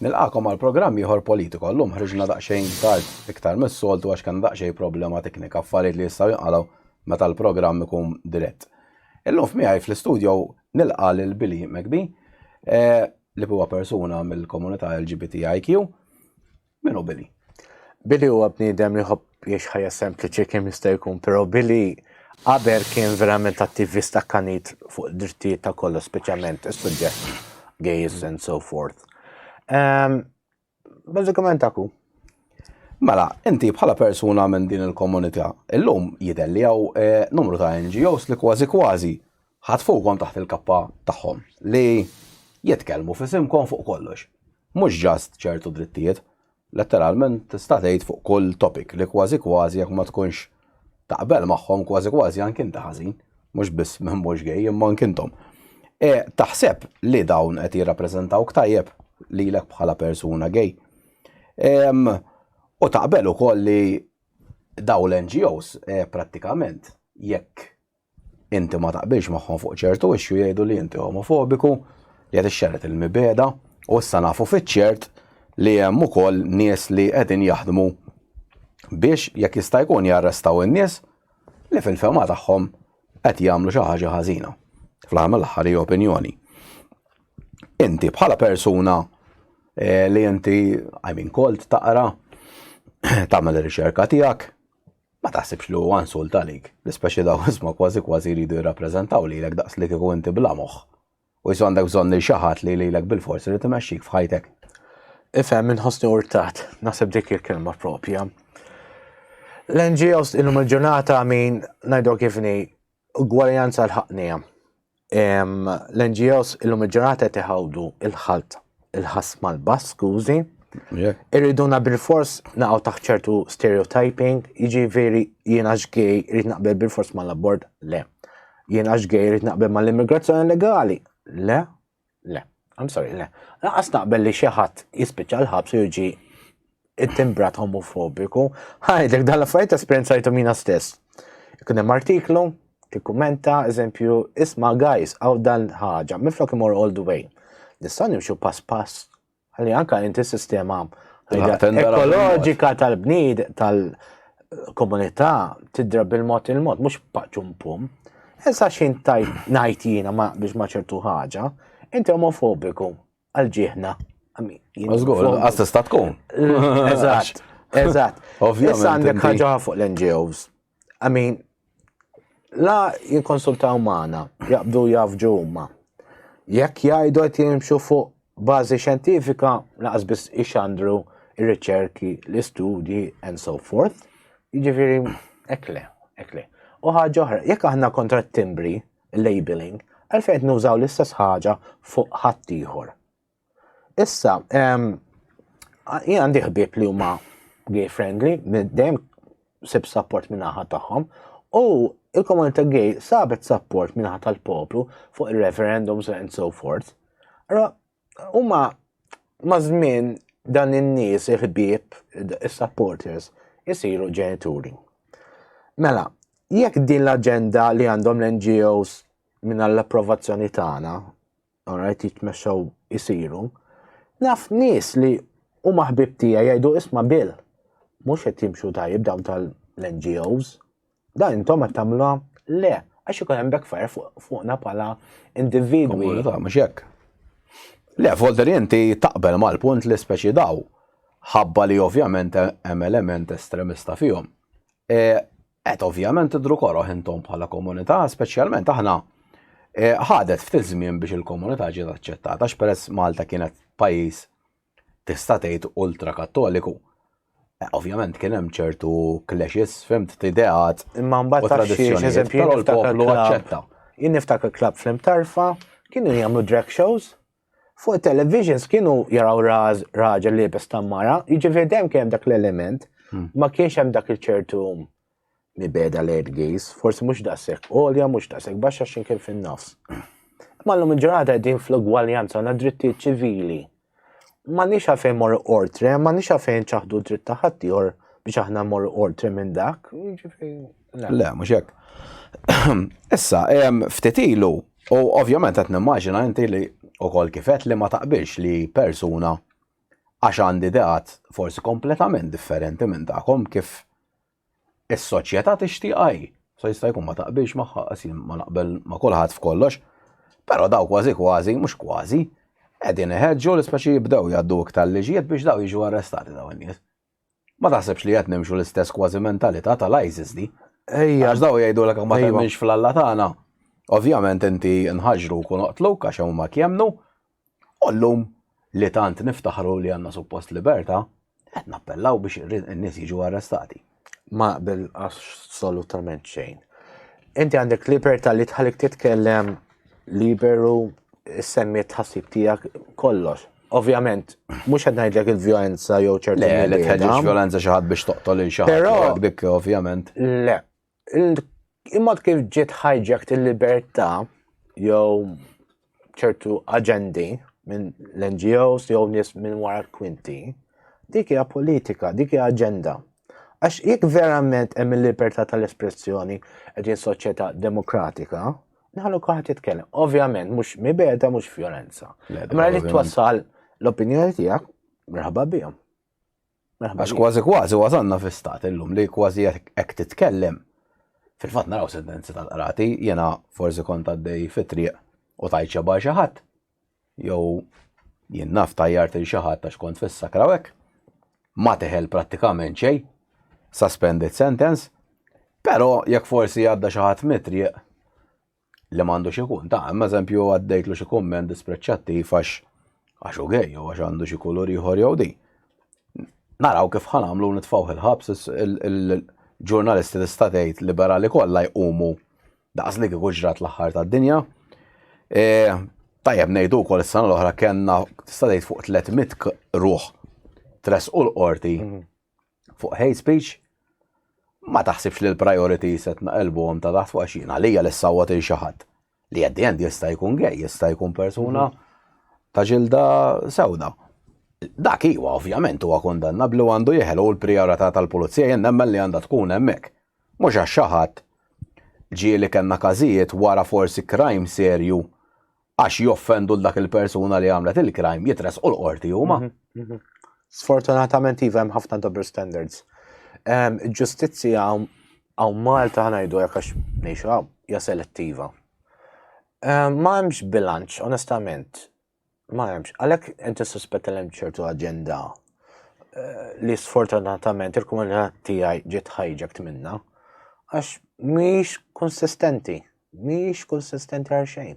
Nilqakom għal programm ieħor Politico. Llum ħriġna daqsxejn tard iktar mis-soltu għax kellna daqsxejn problema teknika, affarijiet li jistgħu jinqalgħu meta l-programm ikun dirett. Illum f'miegħi fl-istudjo nilqa' lil Billy McBee, li huwa persuna mill-komunità LGBTIQ. Min hu Billy? Billy huwa bniedem li ħobb jiex ħajja sempliċi kemm jista' jkun, però Billy qabel kien verament attivist akkanit fuq drittijiet ta' kollu, speċjalment is-suġġett gays and so forth. Ehm, bażikament aku. Mela, inti bħala persuna minn din il-komunità, illum jidher li hawn eh, numru ta' NGOs li kważi kważi Ħadd fuqhom taħt il-kappa tagħhom li jitkellmu f'isimkom fuq kollox. Mhux just ċertu drittijiet, letteralment tista' tgħid fuq kull topic li kważi kważi jekk ma tkunx taqbel magħhom kważi kważi anke inti ħażin, mhux biss min mhux gay imma anke intom. E, taħseb li dawn qed jirrappreżentawk tajjeb lilek bħala persuna gay. Ehm, u taqbel ukoll li daw l-NGOs e, prattikament jekk inti ma taqbilx magħhom fuq ċertu issue jgħidu li inti omofobiku li qed ixxerret il-mibeda u issa nafu fiċ-ċert li hemm ukoll nies li qegħdin jaħdmu biex jekk jista' jkun jarrestaw in-nies li fil-fema tagħhom qed jagħmlu xi ħaġa ħażina. Fl-aħħar l-aħħar hi opinjoni. Inti bħala persuna eh, li inti I mean kolt taqra tagħmel ir-riċerka tiegħek Ma taħsibx li huwa insult għalik, li speċi daw isma kważi kważi jridu jirrappreżentaw lilek daqs li kieku inti bla moħħ. U jsu għandek bżonn lil xi ħadd li lilek bilfors irid imexxik f'ħajtek. Ifhem inħossni urtat, naħseb dik il-kelma propja. L-NGOs illum il-ġurnata min ngħidu kifni Ugwaljanza l-ħaqnija. L-NGOs illum il-ġurnata qed iħawdu il-ħalt il-ħass mal-bass, skużi. Irriduna bil-fors naqgħu taħt ċertu stereotyping, jiġifieri jien għax gej irid naqbel bil-fors mal-abort, le. Jien għax gej irid naqbel mal-immigrazzjoni legali, le. Le, I'm sorry, le. Laqas naqbel li xi ħadd jispiċċa l-ħabs u jiġi it-timbrat homofobiku. Ħajdek dan l-affarijiet esperjenzajtu mina stess. Ikun hemm artiklu, tikkumenta, eżempju, isma' guys, għaw dan ħaġa, minflok imur all the way. Nistgħu nimxu pass pass Għalli anka inti sistema ekoloġika tal-bnid tal-komunità tidra bil-mod il-mod, mux paċum pum. Issa xin tajt najt jina ma biex ma ċertu ħaġa, inti omofobiku għal-ġihna. Għazgur, għasta tkun. Eżat, eżat. Issa għandek ħaġa fuq l-NGOs. I mean, la jinkonsultaw maħna, jaqbdu jafġu huma. Jekk jgħidu qed jimxu fuq bażi xjentifika, laqas biss ixandru ir-riċerki, l-istudji, and so forth. Jiġifieri, ekle, ekle. U ħaġa oħra, jekk aħna kontra t-timbri, labeling, għalfejn nużaw l-istess ħaġa fuq ħaddieħor. Issa, jien għandi ħbieb li huma gay friendly, dejjem sib support minn naħa tagħhom, u il-komunità gay sabet support minn naħa tal-poplu fuq il-referendums and so forth. Ra, huma ma' żmien dan in-nies il-ħbieb, is-supporters, isiru ġenituri. Mela, jekk din l-aġenda li għandhom l-NGOs minn l-approvazzjoni tagħna alright, jitmexxaw isiru. Naf nies li u maħbib tija jgħidu isma bil, mux qed jimxu tajib dawn tal-NGOs, da intom qed tagħmluha le, għax ikun hemm backfire fuqna bħala individwi. Mhux hekk. Le, volter inti taqbel mal-punt li speċi daw, ħabba li ovvjament hemm element estremista fihom. E, Qed ovvjament tidhru koroh intom bħala komunità, speċjalment aħna e, ħadet ftit żmien biex il-komunità ġiet aċċettata għax peress Malta kienet pajjiż tista' tgħid ultra kattoliku. E, ovvjament kien hemm ċertu clashes, fimt ideat. Imma mbagħad tradizzjoni eżempju l-poplu aċċetta. Jien niftakar klab fl-imtarfa, kienu jagħmlu drag shows, Fuq it-televisions kienu jaraw raż raġel li jibes tammara, jiġifieri dejjem kien dak l-element, hmm. ma kienx hemm dak il-ċertu mibeda lejn gejs, forsi mhux daqshekk għolja, mhux daqshekk baxxa x'in kien fin-nofs. Ma l-lum il-ġurnata qegħdin fl-ugwaljanza għandna drittijiet ċivili. Ma nix għafejn mor ortre, ma nix għafejn ċaħdu dritt ta' ħaddieħor biex aħna mor ortre minn dak. Jiġifieri Le, mhux hekk. Issa, ftit ilu, u ovvjament qed nimmaġina inti li ukoll kifet li ma taqbilx li persuna għax għandi ideat forsi kompletament differenti minn tagħkom kif is-soċjetà tixtieq għaj. So jista' jkun ma taqbilx magħha qasim ma naqbel ma' kulħadd f'kollox, però daw kważi kważi mhux kważi qegħdin iħeġġu l-ispeċi jibdew jgħaddu iktar liġijiet biex daw jiġu arrestati daw in-nies. Ma taħsebx li qed nimxu l-istess kważi mentalità tal-ISIS di? Ejja. Għax daw jgħidulek ma temminx fl-Alla tagħna. Ovvjament inti nħaġru kun oqtluk għax huma kjemnu. U llum li tant niftaħru li għandna suppost libertà, qed nappellaw biex in-nies jiġu arrestati. Ma bil assolutament xejn. Inti għandek libertà li tħallik titkellem liberu semmi tħassib tiegħek kollox. Ovvjament, mhux qed ngħidlek il-vjolenza jew ċertu. Le, li tħeġġeġ vjolenza xi ħadd biex toqtol il xi ħadd dik ovvjament. Le. Imma kif ġiet hijacked il-libertà jew ċertu aġendi minn l-NGOs jew nies minn wara kwinti, dik hija politika, dik hija aġenda. Għax jekk verament hemm il-libertà tal-espressjoni qegħdin soċjetà demokratika, Nħallu kaħat jitkellem. Ovvjament, mux mibeda, mux violenza. Ma li twassal l-opinjoni tijak, merħba bijom. Għax kważi kważi wasanna fi stat illum li kważi jek titkellem. Fil-fat naraw sentenzi tal-qrati, jena forsi kont għaddej fit-triq u tajċa barxa ħadd. jew jien naf tajjart il xi ħadd għax kont fis-sakra hekk, ma teħel prattikament xejn, suspended sentence, però jekk forsi għadda xi ħadd mitrieq li m'għandux ikun ta' hemm eżempju għaddejtlu xi kumment dispreċċattiv għax għax u gej jew għax għandu xi kulur ieħor jew din. Naraw kif ħa nagħmlu nitfgħuh il-ħabs il-ġurnalisti tista' tgħid liberali kollha jqumu daqs li kieku ġrat l-aħħar tad-dinja. E, tajjeb ngħidu wkoll is-sena l-oħra kellna tista' tgħid fuq 300 ruħ tres u l-qorti mhm. fuq hate speech ma taħsibx li l-priority setna elbuhom ta' taħt fuq għaxina li hija l-sawwa xi ħadd. li at the end jista' jkun gej, jista' jkun persuna mhm. ta' ġilda sewda. Dak iwa ovvjament huwa kondanna blu għandu jeħel u l-prijorità tal-pulizija jien nemmen li għandha tkun hemmhekk. Mhux għax xaħat ġieli kellna każijiet wara forsi crime serju għax joffendu l-dak il-persuna li għamlet il-crime jitres u l-qorti huma. Mhm, mhm. Sfortunatament iva hemm ħafna double standards. Ehm, ġustizzja Hawn Malta ħa ngħidu hekk għax ngħixu hawn, hija selettiva. Ehm, ma hemmx bilanċ, onestament. Ma hemmx. Għalhekk inti suspetta l-hemm ċertu aġenda eh, li sfortunatament il-komunità tiegħi ġiet ħajġek minna għax mhix konsistenti, mhix konsistenti għal xejn.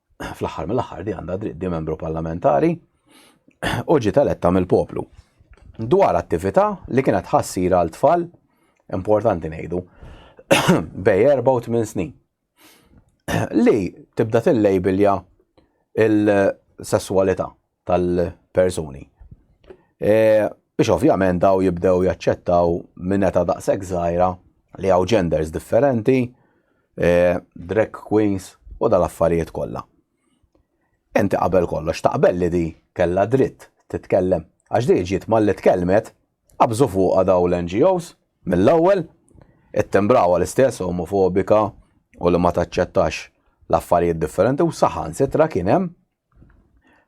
fl-aħħar mill-aħħar di għandha dritt di membru parlamentari u ġiet eletta mill-poplu. Dwar attività li kienet ħassira għal tfal importanti ngħidu bej 84 snin li tibda tillejbilja il-sessualità tal-persuni. Biex ovvjament daw jibdew jaċċettaw minn eta daqshekk żgħira li hawn genders differenti, drag queens u dal-affarijiet kollha. Inti qabel kollox taqbel li di kellha dritt titkellem għax di ġiet malli tkellmet qabżu fuqha daw l-NGOs mill-ewwel, ittimbrawha l-istess omofobika u li ma taċċettax l-affarijiet differenti u saħansitra kien hemm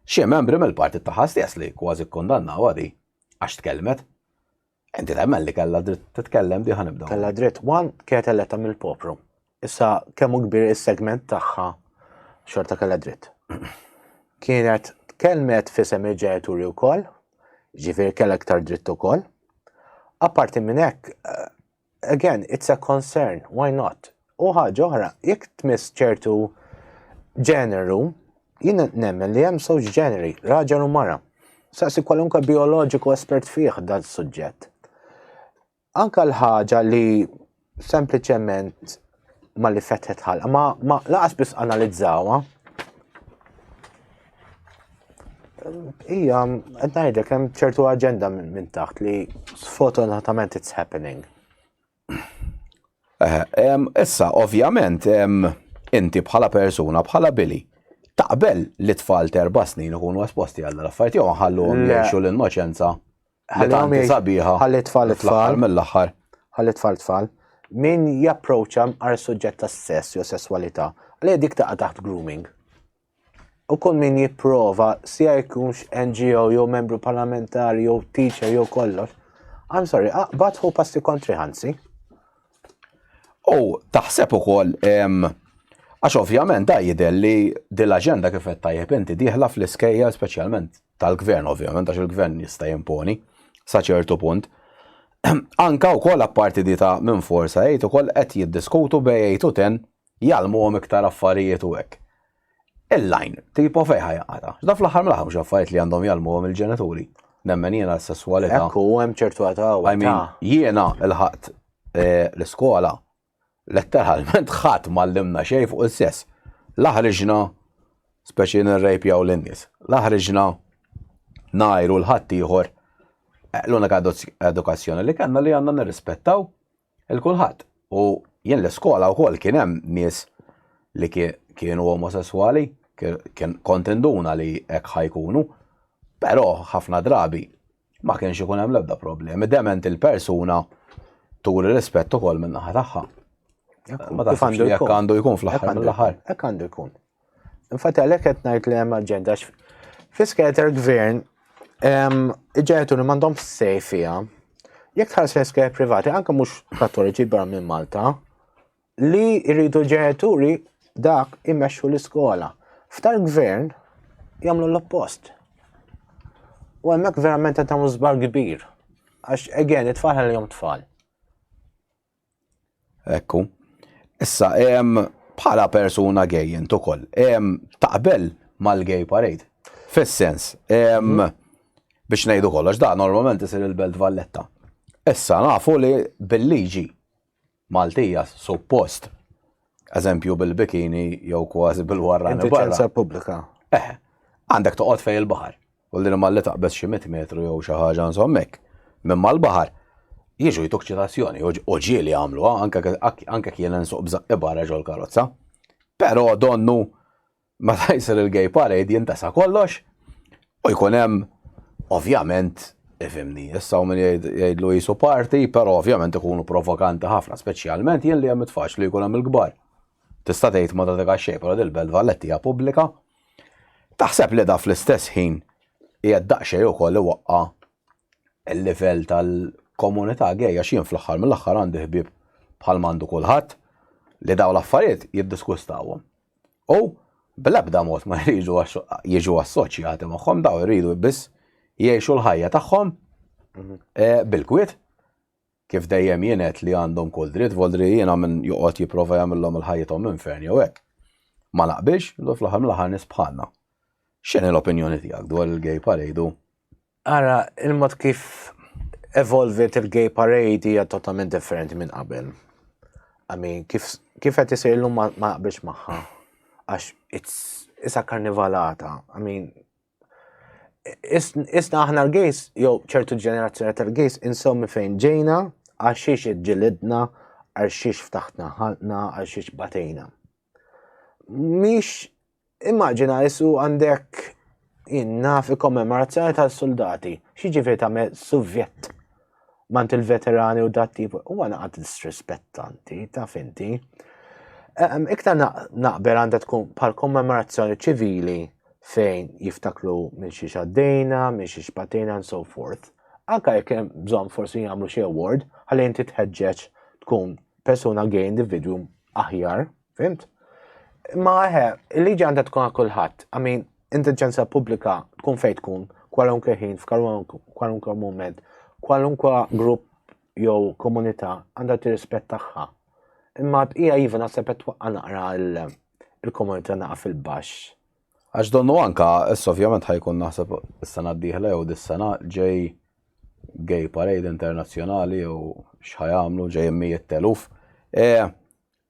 Xi membri mill-partit tagħha stess li kważi kkundannawha di għax tkellmet. Inti temmen li kellha dritt titkellem diħa nibdew. Kellha dritt wan kienet eletta mill-popru. Issa kemm kbir is-segment tagħha xorta kellha dritt. Kienet tkellmet fisem il-ġenituri wkoll, ġifieri kellha iktar dritt ukoll. Apparti minn hekk, Again, it's a concern, why not? U ħaġa oħra, jekk tmiss ċertu ġeneru, jien nemmen li hemm żewġ ġeneri, raġel u mara. Saqsi kwalunkwe bioloġiku espert fih dan suġġett. Anka l-ħaġa li sempliċement ma li fetħet ħalqa, ma, ma laqas biss analizzawha. Ija, qed ngħidlek hemm ċertu aġenda minn taħt li sfortunatament it's happening. Eh, issa, ovvjament, inti bħala persuna, bħala Billy, taqbel li tfal terba snin ikunu esposti għal affarijiet jew nħallu għom jgħixu l-innoċenza. Ħallihom Tanti jgħix- sabiħa. ħalli tfal li fl-aħħar tfal. mill-aħħar. Ħalli tfal tfal. Min japproċċa mqar suġġett ta' sess jew sesswalità, li dik taqa' taħt grooming. U kull min jipprova, sija jkunx NGO jew membru parlamentari jew teacher jew kollox. I'm sorry, aqbad hu passi kontri ħansi. U taħseb ukoll em, għax ovvjament da jidher li din l-aġenda kif qed tajjeb inti dieħla fl-iskejja speċjalment tal-gvern ovvjament għax il-gvern jista' jimponi sa ċertu punt. Anka wkoll apparti di ta' minn forsa jgħid ukoll qed jiddiskutu bej jgħid u ten jgħalmuhom iktar affarijiet u hekk. Il-lajn, tipo fejħa jaqata. Da fl-aħħar mill-aħħar mhux affarijiet li għandhom jgħalmuhom il-ġenituri. Nemmen jiena s-sesswalità. Ekku hemm ċertu għata. Jiena l-ħadd eh, l-iskola Letteralment ħadd m'għallimna xejn fuq is-sess. La ħriġna, speċi nirrejpjaw lin-nies, la ħriġna ngħajru 'l ħaddieħor. L-unika edukazzjoni li kellna li għandna nirrispettaw 'il kulħadd. U jien l-iskola wkoll kien hemm nies li kienu omosesswali, kont induna li hekk ħa jkunu, però ħafna drabi Ma kienx ikun hemm l-ebda problemi. Dement il-persuna turi rispett ukoll minn naħa tagħha. Ma tafx għandu jekk għandu jkun fl-aħħar mill-aħħar. Hekk għandu jkun. Infatti għalhekk qed ngħid li hemm aġenda fiskater gvern iġġetu li m'għandhom sej fiha. Jekk tħares fiskater privati anke mhux kattoliċi barra minn Malta, li jridu l-ġenituri dak imexxu l-iskola. F'tal gvern jagħmlu l-oppost. U hemmhekk verament qed tagħmlu żbar kbir. Għax again it-tfal li jom tfal. Ekku. Issa hemm bħala persuna gej int ukoll. Hemm taqbel mal-gay parade. Fis-sens, mhm. biex ngħidu kollox, da normalment isir il-Belt Valletta. Issa nafu li bil-liġi Maltija suppost, eżempju bil-bikini jew kważi bil-warrani Inti barra. ċensa pubblika. Eh, għandek toqgħod fej il-baħar. U l-din malli taqbeż xi mit metru jew xi ħaġa insommek. Minn mal-baħar jiġu jtuk ċitazzjoni u ġieli jagħmluha anke anke kien insuq b'żaqqi barra ġol karozza. Però donnu Meta jsir il-gay parade jintesa kollox u jkun hemm ovvjament Ifimni, issa u minn jgħidlu jisu parti, pero ovvjament ikunu provokanti ħafna, speċjalment jien li hemm itfax li jkun hemm il-kbar. Tista' tgħid ma tagħtik xejn, però dil-Belt Valletti hija pubblika. Taħseb li da fl-istess ħin hija daqsxejn ukoll iwaqqa' il-livell tal-komunità gejja x'jien fl-aħħar mill-aħħar għandi ħbieb bħal mandu kulħadd li daw l-affarijiet jiddiskustawhom. U bl-ebda mod ma jridu jiġu assoċjati magħhom daw jridu biss jgħixu l-ħajja tagħhom mhm. eh, bil-kwiet kif dejjem jienet li għandhom kull dritt, voldri jiena minn joqgħod jipprova jagħmilhom il-ħajjithom infern jew hekk. Ma naqbilx, do fl-aħħar mill-aħħar nisbħanna. X'inhi l-opinjoni tiegħek dwar il-gay parade Ara, il-mod kif evolvit il-gay parade hija totalment differenti minn qabel. Għami, kif kif qed isir illum ma ma naqbilx magħha. Għax it's isa karnivalata. I mean, is- isna aħna l-gejs, jew ċertu ġenerazzjoni tal-gejs, insew minn fejn ġejna, għax xiex iġġilidna, għax xiex ftaħtna ħalqna, għax xiex batejna. Mhix Immaġina isu għandek jien naf ikkommemorazzjoni tal-soldati. X'jiġifieri tagħmel suvjett mant il-veterani u dat tip u għana għad disrispettanti, taf inti. Ehm, iktar naqber għandha tkun pal kommemorazzjoni ċivili fejn jiftaklu minn xi xaddejna, minn xi xpatejna and so forth. Anka jekk hemm bżonn forsi jagħmlu xi award ħalli inti tħeġġeġ tkun persuna gay individuum aħjar Fimt? Ma eħe, il-liġi għandha tkun għal kulħadd. I mean, intelligenza pubblika tkun fejn tkun, kwalunkwe ħin, f'kwalunkwe moment, kwalunkwe grupp jew komunità għandha tirrispett tagħha. Imma bqija iva naħseb qed twaqqa' naqra il-komunità naqa' fil-baxx. Għax donnu anka, issa ovvjament ħajkun naħseb is-sena d-dieħla jew dis-sena ġej gay parade internazzjonali jew x'ħajamlu ġej mijiet teluf. E,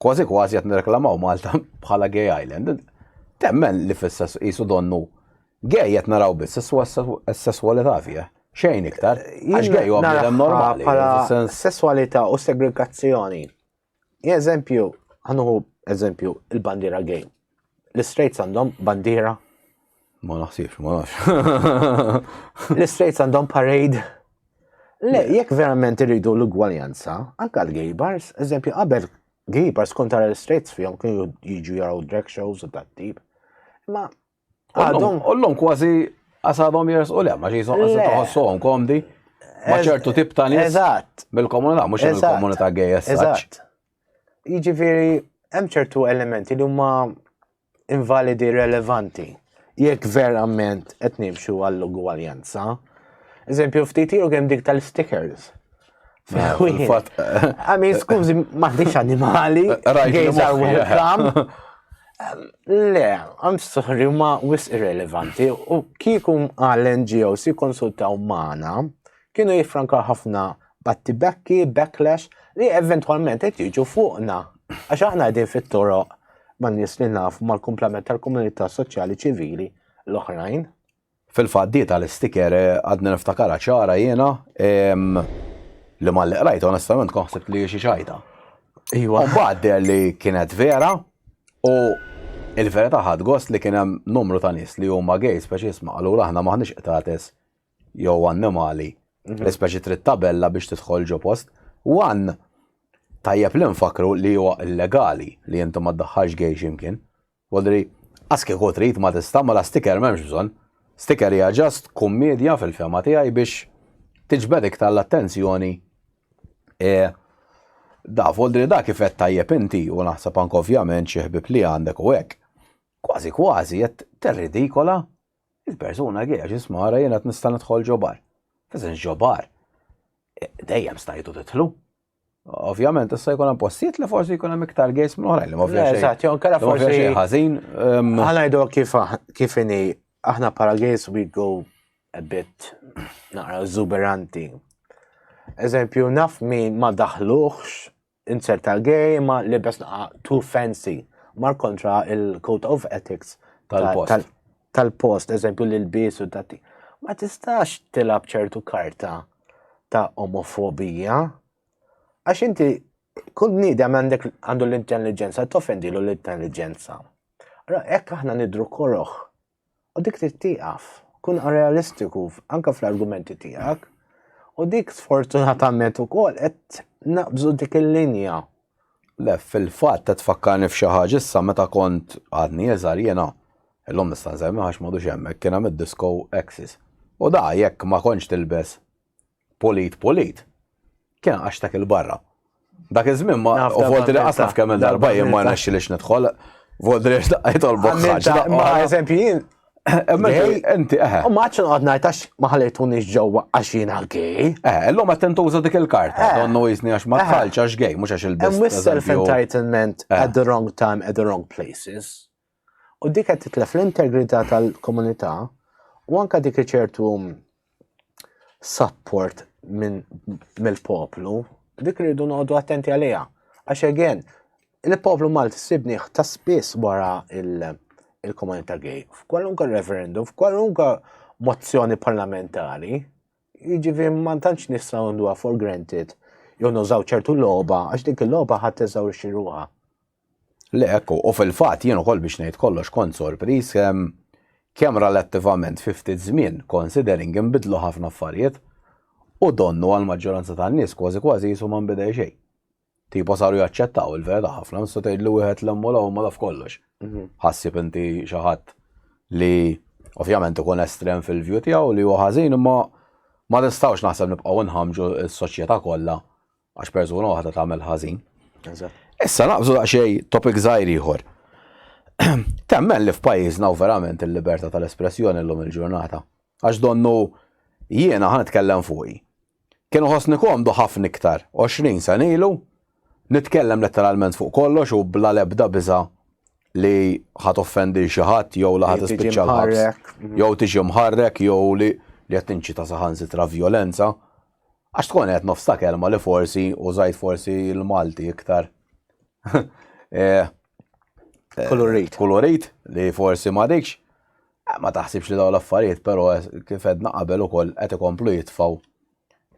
Kważi kważi qed nirreklamaw Malta bħala gay island. Temmen li fis-sess qisu donnu gay qed naraw biss is-sesswalità fih. Xejn iktar. Għax gay huwa bniedem normali. Bħala sesswalità u segregazzjoni. Eżempju, ħanuħu eżempju il-bandiera gay. L-Istraits għandhom bandiera? Ma naħsibx, ma nafx. L-Istraits għandhom parade? Le, jekk verament irridu l-ugwaljanza, anka l-gay bars, eżempju, qabel gay bars kont tara l-Istraits fihom kienu jiġu jaraw drag shows u dat tip. Ma għadhom. Ollhom kważi għasadhom jers u lemma ġi toħossuhom komdi. Ma ċertu tip ta' nies. Eżatt. Bil-komunità, mhux il-komunità gay eżatt. Jiġifieri hemm ċertu elementi li huma invalidi relevanti jekk verament qed nimxu għall-ugwaljanza. Eżempju, ftit jew kemm dik tal-stickers. Għami, skużi, maħdix animali, gays are welcome. Le, għam sorry, ma wis irrelevanti, u kiekum għal-NGOs jikonsultaw maħna, kienu jiffrankaw ħafna battibekki, backlash, li eventwalment qed jiġu fuqna. Għax aħna qegħdin fit-toroq ma' nies li naf mal-kumplament tal-komunità soċjali ċivili l-oħrajn. Fil-fatt di tal-istiker eh, għadni niftakara ċara jiena li ma li qrajt onestament konħsib li xi xajta. Iwa. Mbagħad li kienet vera u il-verità ħad gost li kien hemm numru ta' nies li huma gay speċi jisma' allura aħna maħniex qtates jew annimali, mhm. l-ispeċi trid tabella biex tidħol ġo post. Wan, tajjeb li nfakru li huwa illegali li inti ma ddaħħalx gej ximkien. Wadri, aski kieku trid ma tista' ma la sticker m'hemmx bżonn. Sticker hija ġast kummedja fil-fema tiegħi biex tiġbed iktar l-attenzjoni e, da, vodri da kif qed tajjeb inti u naħseb anke ovvjament xi ħbib li għandek u hekk. Kważi kważi qed terridikola Il-persuna għiex jisma' ara jien qed nista' nidħol ġo bar. F'eżens ġo bar. E, dejjem stajtu titlu. Ovvjament, issa jkun hemm postijiet li forsi jkun hemm iktar gejs minn oħrajn li ma fiex. Eżatt, jew kera forsi ħażin. Ħanajdu ehm, kif kif inhi aħna para gejs we go a bit naqra zuberanti. Eżempju, naf min ma daħluħx Insert ta' gay ma libes naqa too fancy. Mar kontra il-code of ethics tal-post. Tal-post, eżempju l-ilbis u dati. Ma tistax tilab ċertu karta ta' omofobija. Għax inti kull bniedem għandek għandu l-intelligenza, tofendilu l-intelligenza. Ra, ekk aħna nidru koroħ U dik trid tieqaf. Kun realistiku anke fl-argumenti tiegħek. U dik sfortunatament ukoll qed naqbżu dik il-linja. Le, fil-fatt qed tfakkarni f'xi ħaġa issa meta kont għadni iżgħar jiena illum nista' nsemmi għax m'għadux hemmhekk kien hemm id-disco Axis. U da jekk ma kontx tilbes Pulit, pulit. Kien għax dak il-barra. Dak iż-żmien ma u volti li qasaf kemm il-darba jien ma nexxi lix nidħol. Volti li xtaqajt għal bokħaġ. Ma eżempju jien. Enti, eħe. U maċċu għad najtax maħalitu nix ġewwa għax jien għal-gej. Eh, l-lum għat tentuża dik il-karta. Eh. Donnu jizni għax ma tħalċ għax gej, mux għax il-biss. Hemm self-entitlement eh. at the wrong time, at the wrong places. U dik qed titlef l-integrità tal-komunità u anka dik ċertu support minn mill-poplu, dik rridu noqogħdu attenti għaliha. Għax again, il-poplu Malti sibni ta' spiss wara il-komunità gay, f'kwalunka referendum, f'kwalunka mozzjoni parlamentari, jiġifieri ma tantx nistgħu nduha for granted jew nużaw ċertu logħba għax dik il-logħba ħadd eżawrixxi ruha. Le hekk hu, u fil-fatt jien ukoll biex ngħid kollox kont sorpriż kemm relattivament fi ftit żmien considering inbidlu ħafna affarijiet u donnu għall-maġġoranza tan-nies kważi kważi qisu ma nbidel xejn. Tipo saru jaċċettaw il-verità ħafna, nista' tgħid li wieħed lemmu l huma laf kollox. Mhm. Ħassib inti xi ħadd li ovvjament ikun estrem fil-view tiegħu li huwa ħażin imma ma nistgħux naħseb nibqgħu nħamġu s-soċjetà kollha Għax persuna waħda tagħmel ħażin. Issa naqbżu daqsxejn topic żgħir ieħor. Temmen li f'pajjiżna u verament il-libertà tal-espressjoni llum il-ġurnata. Għax donnu jiena ħan nitkellem fuqi. Kienu ħossni komdu ħafna iktar 20 sena ilu nitkellem letteralment fuq kollox u bla lebda biża' li ħat offendi xi ħadd jew li ħadd ispiċċa l-ħabs jew tiġi mħarrek jew li li qed tinċita saħansitra vjolenza Għax tkun qed nofs ta' kelma li forsi użajt forsi l-Malti iktar. Eh, eh, kulurit. Kulurit li forsi ma dikx. Eh, ma taħsibx li daw l-affarijiet, pero kif edna qabel ukoll qed ikomplu jitfaw.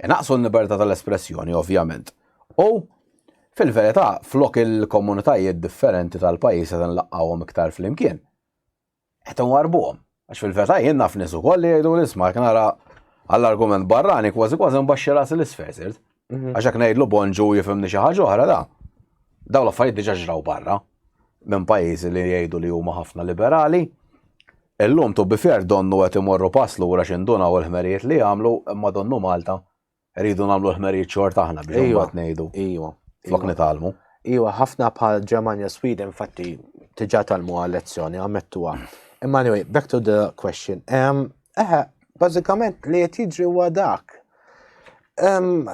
Naqsu l-libertà tal-espressjoni, ovvjament. U fil-verità, flok il-komunitajiet differenti tal-pajjiż qed nlaqqawhom iktar flimkien. Qed inwarbuhom. Għax fil-veta jien naf nies ukoll li jgħidu l-isma' jekk nara għall-argument barrani kważi kważi nbaxxi rasi l-isfel sirt. Mhm. Għax jekk ngħidlu bonġu jifhimni xi ħaġa oħra da. Dawn l-affarijiet diġà ġraw barra minn pajjiżi li jgħidu li huma ħafna liberali. Illum tu bifer donnu qed imorru pass lura x'indunaw il-ħmerijiet li jagħmlu imma donnu Malta Rridu nagħmlu l-ħmerijiet xorta aħna biex Ejwa. imbagħad ngħidu Ejwa. flok nitgħallmu. Ejwa, ħafna bħal Ġermanja Sweden infatti tiġa talmu għal lezzjoni għamettuha. Imma anyway, back to the question. Em, Eħe, bażikament li qed jiġri huwa dak. Em,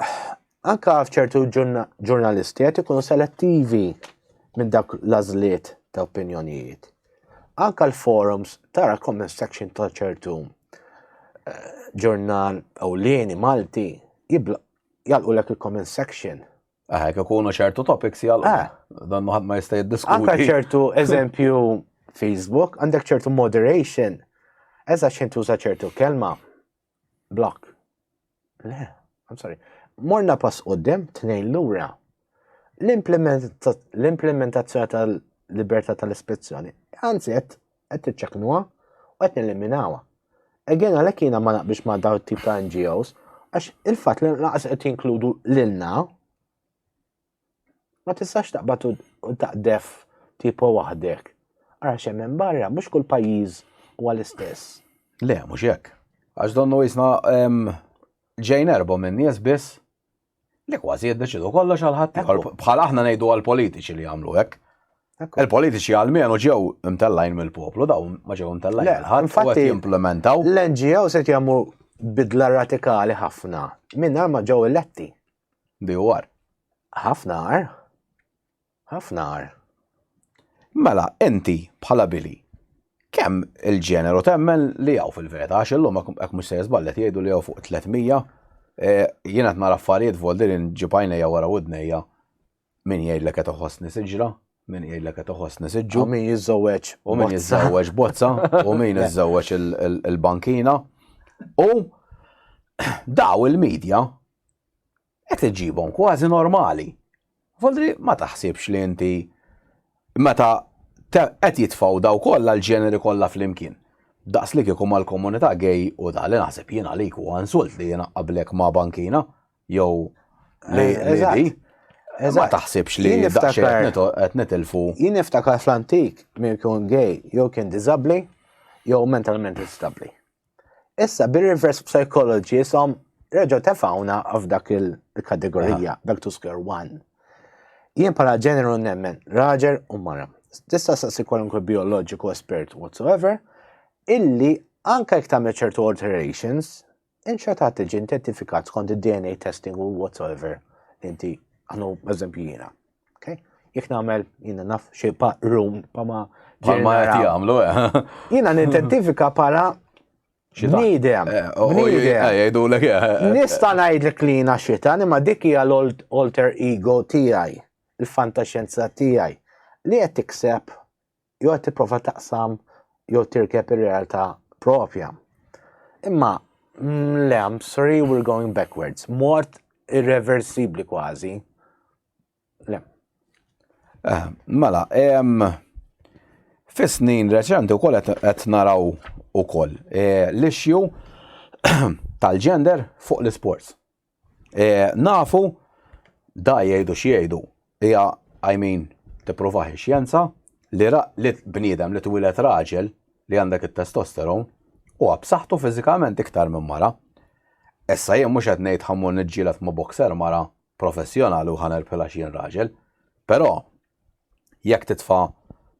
Anka f'ċertu ġurna- ġurnalisti qed ikunu selettivi minn dak l-għażliet ta' opinjonijiet. Anka l-forums tara comment section ta' ċertu ġurnal ewlieni Malti jalqu lek il-comment section. Aha, jekk ikunu ċertu topics jalqu. Ah. Dan ħadd ma jista' jiddiskuti. Anka ċertu eżempju Facebook, għandek ċertu moderation, eża xejn tuża ċertu kelma, block. Le, I'm sorry. Morna pass qoddim tnejn lura. L-implementazzjoni tal-libertà tal-ispezzjoni, anzi qed qed tiċċeknuha u qed neliminawha. Again għalhekk jiena ma naqbix ma' daw tip ta' NGOs għax il-fatt li naqas qed jinkludu lilna Ma tistax taqbad u taqdef tipo waħdek. Ara xemmen barra, mux kull pajiz u għal-istess. Le, mux jekk. Għax donnu jisna ġejn erbo minn nies biss li kważi jiddeċidu kollox għal-ħadd. Bħal aħna ngħidu għal-politiċi li jagħmlu hekk. Il-politiċi għal-menu ġew imtellajn mill-poplu, daw ma ġew imtellajn mill-ħadd. Infatti, implementaw. L-NGO se jagħmlu bidla radikali ħafna minn ma ġew eletti. BOR. Ħafna agħar. Ħafna agħar. Mela, inti bħala Billy, kemm il-ġeneru temmen li hawn fil-verita, għax illum hekk mhux se jiżballet jgħidu li hawn fuq 300, eh, jiena qed nara affarijiet voldirin ġibajnejja wara widnejja Min jgħidlek qed iħossni siġra, min jgħidlek qed iħossni siġġu. U min jiżżewweġ. U min jiżżewweġ bozza, u min jiżżewweġ il-bankina. U daw il-medja qed iġibhom kważi normali. Voldri ma taħsibx li inti meta qed jitfgħu daw kollha l-ġeneri kollha flimkien. Daqs li kieku mal-komunità gej u da li naħseb jiena għalik u insult li jiena qablek ma' bankina, jew l-lidi. Ma taħsibx li daqxie qed nitilfu. Jien niftakar fl-antik min kien gay jew kien diżabbli jew mentalment instabbli. Issa bir-reverse psychology jisom reġgħu tefawna f'dak il-kategorija, back to square one. Jien bħala ġeneru nemmen raġel u mara. Tista' sassi kwalunkwe bioloġiku espert whatsoever, illi anke jekk tagħmel ċertu alterations, Inċetat tiġi identifikat skont id-DNA testing u whatsoever inti għanu eżempju jina. Okay? Jek namel jina naf xie pa rum pa ma ġemma jati għamlu. Eh. Jina nidentifika pala Nidem. Eh, Jgħidu l Nista najd li klina xita, ma dikki għal alter ego tijaj, il-fantaxenza tijaj, li għet tikseb jew qed tipprova taqsam jew tirkeb ir-realtà propja. Imma mm, le, I'm sorry, we're going backwards. Mort irreversibli kważi. Le. Eh, mela, em, fis-snin reċenti wkoll qed qed naraw ukoll eh, l-issue tal-gender fuq l-isports. Nafu, da jgħidu x'jgħidu, hija, I mean, tippruvah ix-xjenza, li li bniedem li twieled raġel li għandek it-testosteron huwa b'saħħtu fiżikament iktar minn mara. Issa jien mhux qed ngħid ħa mmur niġġieled ma' boxer mara professjonali u ħa nirbħilha x'jien raġel, però Jekk titfa'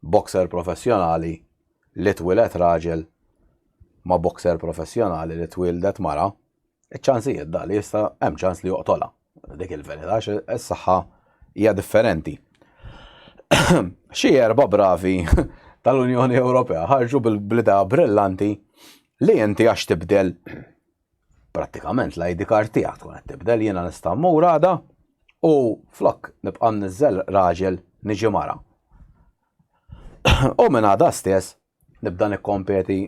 boxer professjonali li twieled raġel ma' boxer professjonali li twieldet mara, iċ-ċansijiet dak li jista' hemm ċans li joqtolha. Dik il-verità għax is-saħħa hija differenti. Xi erba' bravi tal-Unjoni Ewropea ħarġu bl-idea brillanti li inti għax tibdel prattikament l-ID card tiegħek tkun qed tibdel jiena nista' mmur għada u flok nibqa' niżel raġel niġi mara. u minn għada stess nibda nikkompeti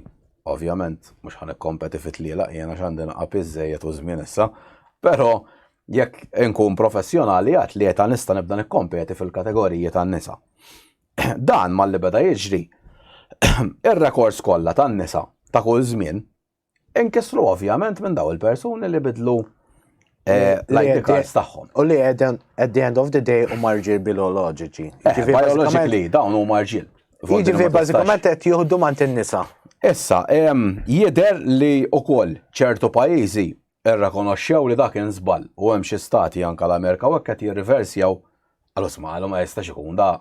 ovvjament mhux ħan ikkompeti fit-tliela jiena x'għandi naqab iżejjed u żmien issa, però jekk inkun professjonali għat li jeta nista nibda nikkompeti fil-kategoriji tan-nisa. Dan mal-li beda jiġri, ir-rekords kollha tan-nisa ta' kull żmien Inkisru ovvjament minn daw il-persuni li bidlu Eh, l-ID cards tagħhom. U li at the end of the day u marġil bioloġiċi. Eh, bioloġiċi dawn u marġil. Jiġifieri bażikament qed jieħdu mant in-nisa. Issa, jidher li ukoll ċertu pajjiżi irrakonoxxew li dak inżball u hemm xi stati anke l-Amerika u hekk qed jirriversjaw Għalus ma għalu ma jistax ikun da,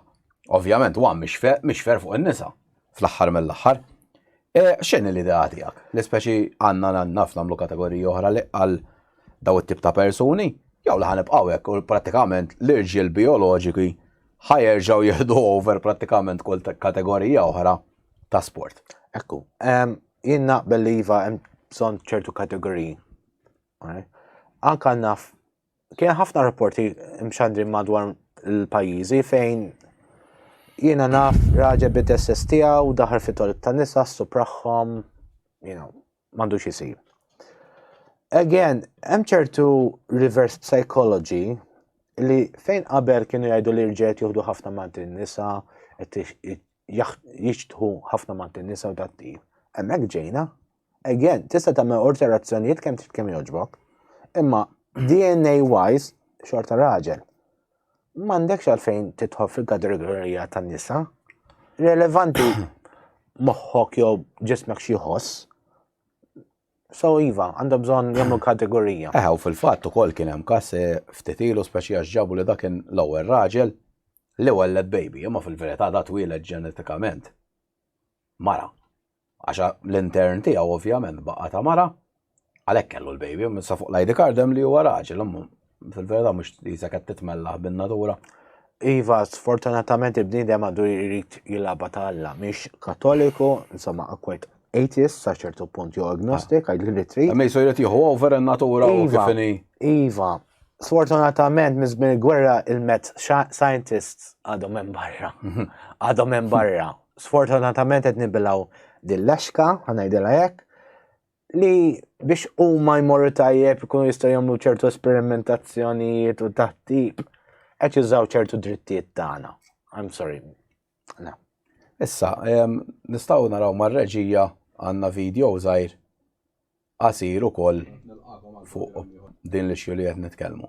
ovvjament huwa mixfer fuq in-nisa fl-aħħar mill-aħħar. E, x'inhi l-idea tiegħek? Li speċi għandna naf nagħmlu kategoriji oħra li għal daw it-tip ta' persuni, jew li ħanibqgħu hekk u prattikament l-irġiel bioloġiki ħajerġgħu jieħdu over prattikament kull kategorija oħra ta' sport. Ekku, jien naqbel li iva hemm bżonn ċertu kategoriji. Anka naf Kien ħafna rapporti mxandri madwar il-pajjiżi fejn jiena naf raġel bid-dresses tiegħu daħar fit toilet ta' nisa supraħħom, you know, m'għandux isir. Again, hemm ċertu reverse psychology li fejn qabel kienu jgħidu li rġiet juhdu ħafna mant in-nisa, jixtħu ħafna mant in-nisa u dat-tip. Hemmhekk ġejna, Again, tista' tagħmel alterazzjonijiet kemm trid kemm jogħġbok. Imma DNA wise xorta raġel. M'għandekx għalfejn titħob fil-kategorija tan-nisa. Relevanti moħħok jew ġismek xi ħoss. So iva, għandha bżonn jagħmlu kategorija. Eħ, u fil-fatt ukoll kien hemm każ eh, ftit ilu speċi għax ġabu li dak l-ewwel raġel li welled baby, imma fil-verità da twieled ġenetikament. Mara. Għax l-intern tiegħu ovvjament baqa' ta' mara, għalhekk kellu l-baby, sa fuq l-ID card hemm li huwa raġel, fil-verità mhux jisa qed titmellaħ bin-natura. Iva, sfortunatament il-bniedem għadu jrid jilaba ta' Alla, mhix katoliku, insomma, akwet atheist sa ċertu punt jew agnostik, ah. għajdu li trid. Ma jisu jrid jieħu over in-natura u iva, kifini. Iva, sfortunatament mizmin il-gwerra il-met scientists għadhom hemm barra. Mhm. Għadhom hemm barra. sfortunatament qed nibilgħu din l-exka, ħanajdilha hekk, li biex huma jmorru tajjeb ikunu jistgħu jagħmlu ċertu esperimentazzjonijiet u taħtib qed jużaw ċertu drittijiet tagħna. I'm sorry. No. Issa, nistgħu naraw mar-reġija għandna video żgħir qasir ukoll fuq din l-issue li qed nitkellmu.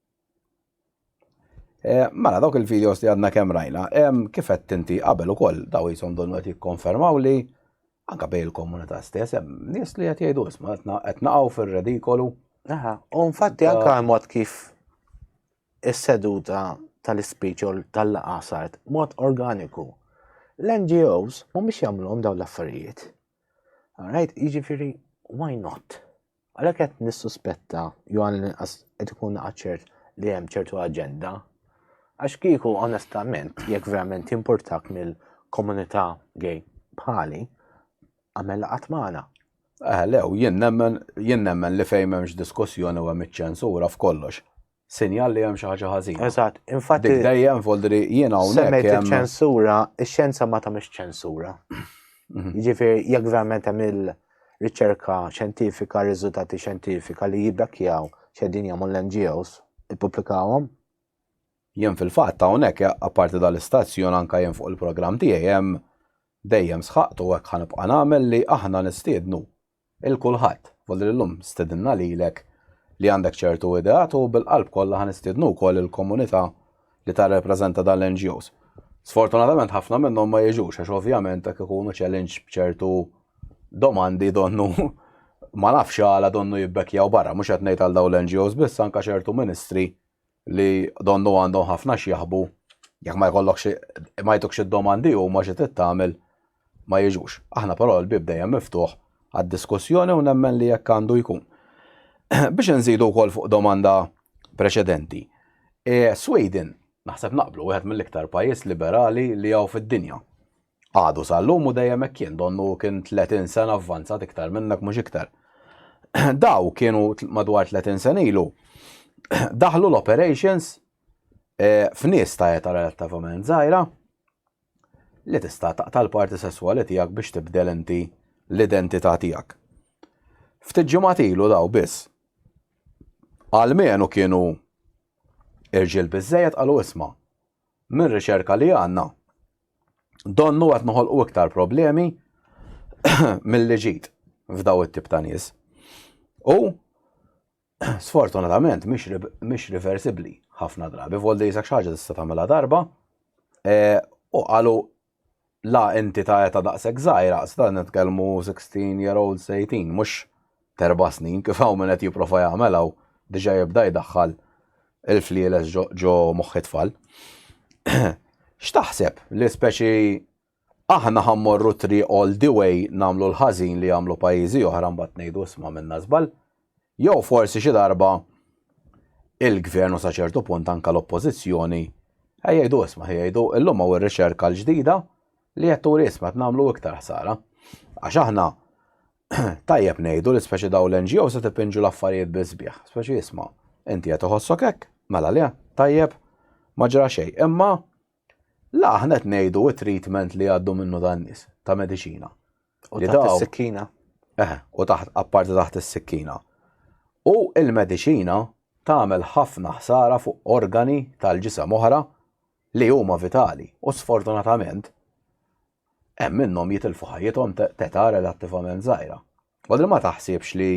Eh, mela, dawk il-videos li għadna kemm rajna, kif qed tinti qabel ukoll daw jisom donu qed jikkonfermaw li anka bej il-komunità stess hemm nies li qed jgħidu isma' qed naqgħu fir-redikolu. Aha, u infatti anka mod kif is-seduta tal-ispeech u tal-laqa sart mod organiku. L-NGOs mhumiex jagħmluhom dawn l-affarijiet. Alright, jiġifieri why not? Għalhekk qed nissuspetta jew għall-inqas qed ikun ċert li hemm ċertu aġenda. Għax kieku onestament, jekk verament importak mill-komunità gay bħali, għamel qatt magħna. Eh, lew, jien nemmen li fejn m'hemmx diskussjoni u hemm iċ-ċensura f'kollox. sinjal li hemm xi ħaġa ħażina. Eżatt, infatti. Dik dejjem voldri jien hawnhekk. Semmejt iċ-ċensura, ix-xjenza ma tagħmilx ċensura. Mhm. Jiġifieri jekk verament hemm il-riċerka xjentifika, riżultati xjentifika li jibbekkjaw x'edin jagħmlu l-NGOs, ippubblikawhom. Jien fil-fatt hawnhekk apparti dal-istazzjon anke jien fuq il-programm tiegħi hemm dejjem sħaqtu hekk ħanibqa' nagħmel li aħna nistiednu 'l kulħadd, volli li llum stedinna lilek li għandek ċertu ideat u bil-qalb kollha ħa nistiednu wkoll il-komunità li tarrepreżenta dan l-NGOs. Sfortunatament ħafna minnhom ma jiġux għax ovvjament hekk ikunu challenge b'ċertu domandi donnu ma nafx għala donnu jibbekkjaw barra, mhux qed ngħid għal dawn l-NGOs biss anke ċertu ministri li donnu għandhom ħafna x'jaħbu jekk ma jkollok xi ma jtukx id-domandi u ma xi tagħmel ma jiġux. Aħna però l-bib dejjem miftuħ għad-diskussjoni u nemmen li jekk għandu jkun. Biex nżidu wkoll fuq domanda preċedenti. E, Sweden, naħseb naqblu, wieħed mill-iktar pajjiż liberali li hawn fid-dinja. Għadu sal-lum u dejjem hekk kien, donnu hu kien tletin sena avvanzat iktar minnek mhux iktar. Daw kienu madwar tletin sena ilu daħlu l-operations eh, f'nies ta' eta relattivament żgħira li tista' taqta' l-parti sesswali tiegħek biex tibdel inti l-identità tiegħek. Ftit ġimgħat ilu daw biss. Għalmenu kienu irġiel biżejjed qalu isma' minn riċerka li għandna Donnu qed noħolqu iktar problemi milli ġid f'daw it-tip ta' nies. U sfortunatament mhix reversibbli ħafna drabi, voldi jisak xaġa tista' tagħmilha darba e, u qalu la inti ta' eta daqshekk żgħira, sta nitkellmu 16 year old 18, mhux t'erba' snin, kif hawn min qed jipprova jagħmel hawn, diġà jibda jdaħħal il-flieles ġo moħħ it-tfal. X'taħseb li speċi aħna ħa mmorru triq all the way nagħmlu l-ħażin li jagħmlu pajjiżi oħra mbagħad ngħidu isma' minna żball? Jew forsi xi darba il-gvern u sa ċertu punt anke l-oppożizzjoni jgħidu isma' jgħidu illum hawn ir-riċerka l-ġdida li qed turi isma' qed nagħmlu iktar ħsara. Għax aħna Tajjeb ngħidu li speċi dawn l-NGOs qed ipinġu l-affarijiet bis-sbieħ. Speċi isma', inti qed iħossok hekk, mela le, tajjeb, ma ġra xejn. Imma la aħna qed ngħidu t-treatment li għaddu minnu dan nies ta' mediċina. U taħt is-sikkina. Eh, u taħt apparti taħt is-sikkina. U il-mediċina tagħmel ħafna ħsara fuq organi tal-ġisem oħra li huma vitali u sfortunatament Hemm minnhom jitilfu ħajjithom t'età relattivament żgħira. Għadni ma taħsibx li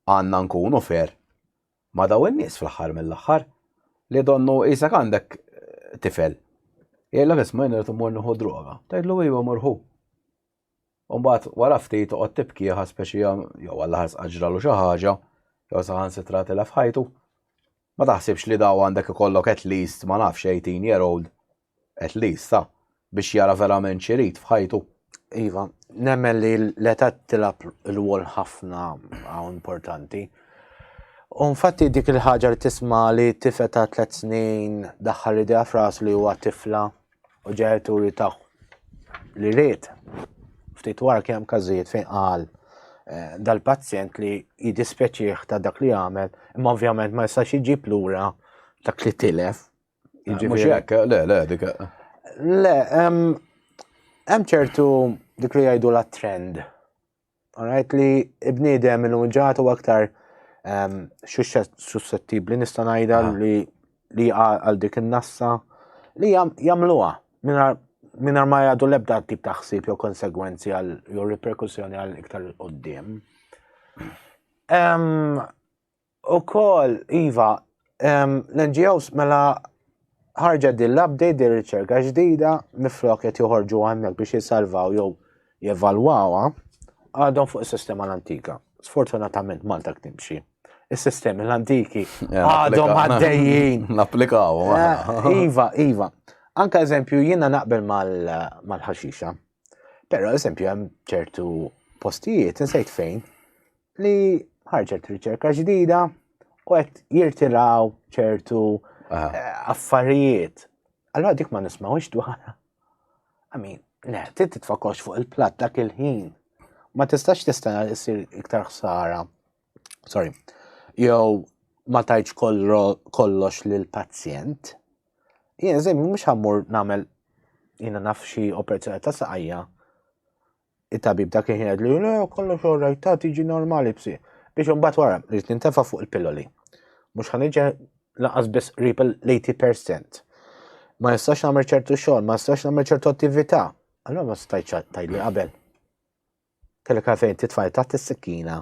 għandna nkunu fair ma' dawn in-nies fl-aħħar mill-aħħar, li donnu qisek għandek tifel, jgħidlek isma' jien irid immur nieħu droga, tgħidlu ejwa mur ħu. U mbagħad wara ftit toqgħod tibkieha speċi jew għall-aħħar sqatt ġralu xi ħaġa, jew saħansitra tilef ħajtu. Ma taħsibx li daw għandek ikollok at least ma nafx 18 year old At least, sa, biex jara verament x'irid f'ħajtu. Iva, nemmen li l-età tilab l-wol ħafna għaw importanti. U nfatti dik il-ħaġa li tisma li tifet ta' tlet snin daħħal li dija fras li huwa tifla u ġenituri ta' li rrit. Ftit wara kemm każijiet fejn qal eh, dal-pazjent li jidispeċieħ ta' dak li għamel, imma ovvjament ma jistax iġib lura dak li tilef Mhux hekk, le, le, dik. Le, hemm ċertu dik li jgħidu la trend. Alright li ibniedem il-unġat u aktar suscettibli nista' ngħidha ah. li li għal dik in-nassa li jagħmluha mingħajr ma jgħadu l-ebda tip ta' ħsieb jew konsegwenzi għal jew riperkussjoni għal iktar qudiem. Ukoll, iva, l-NGOs mela ħarġet din l-update din riċerka ġdida miflok qed joħorġu hemmhekk biex jissalvaw jew jevalwawha għadhom fuq is-sistema l-antika. Sfortunatament Malta timxi. Is-sistemi l-antiki għadhom għaddejjin. Napplikaw. Eh, iva, iva. Anka eżempju jiena naqbel mal-ħaxixa. Però eżempju hemm ċertu postijiet insejt fejn li ħarġet riċerka ġdida u qed jirtiraw ċertu ah. eh, affarijiet. Allora dik ma nismawx dwarha. Amin, le, trid titfakox fuq il-platt dak il-ħin. Ma tistax tista' jsir iktar ħsara sorry, jew ma tajċ kollox l-pazjent, jien zim mux għammur namel jina nafxi operazzjoni ta' saqajja, il-tabib dak kien jgħid li le kollox orrejt ta' tiġi normali bsi. Biex unbat wara, rrit nintefa fuq il-pilloli. Mux ħanġa laqas biss rip l-80%. Ma jistax namel ċertu xogħol, ma jistax namel ċertu attività. Allora ma stajċ tajli qabel. Kellek għalfejn titfaj taħt is-sikkina,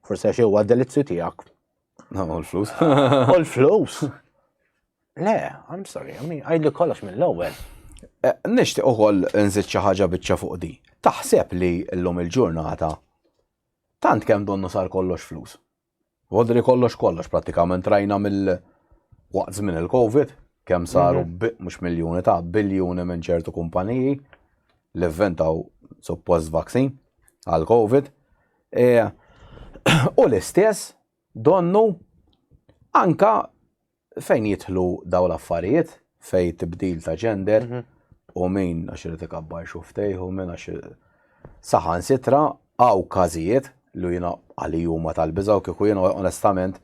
forsi għax huwa delizzju tiegħek. No, all flus. All flus. Le, I'm sorry, I mean, għajli kollox mill-ewwel. Eh, Nishtiq ukoll nżid xi ħaġa biċċa fuq di. Taħseb li llum il-ġurnata tant kemm donnu sar kollox flus. Vodri kollox kollox prattikament rajna mill waqt żmien il-Covid kemm saru mhux miljuni ta' biljuni minn ċertu kumpaniji li vventaw suppost vaksin għal Covid. E, u l-istess donnu anka Fejn jidħlu dawn l-affarijiet, fejn tibdil ta' ġender, mhm. u min għax irid ikabbar xuftejh u min għax saħan sitra għaw każijiet li jiena għalli huma tal-biża u kieku jiena onestament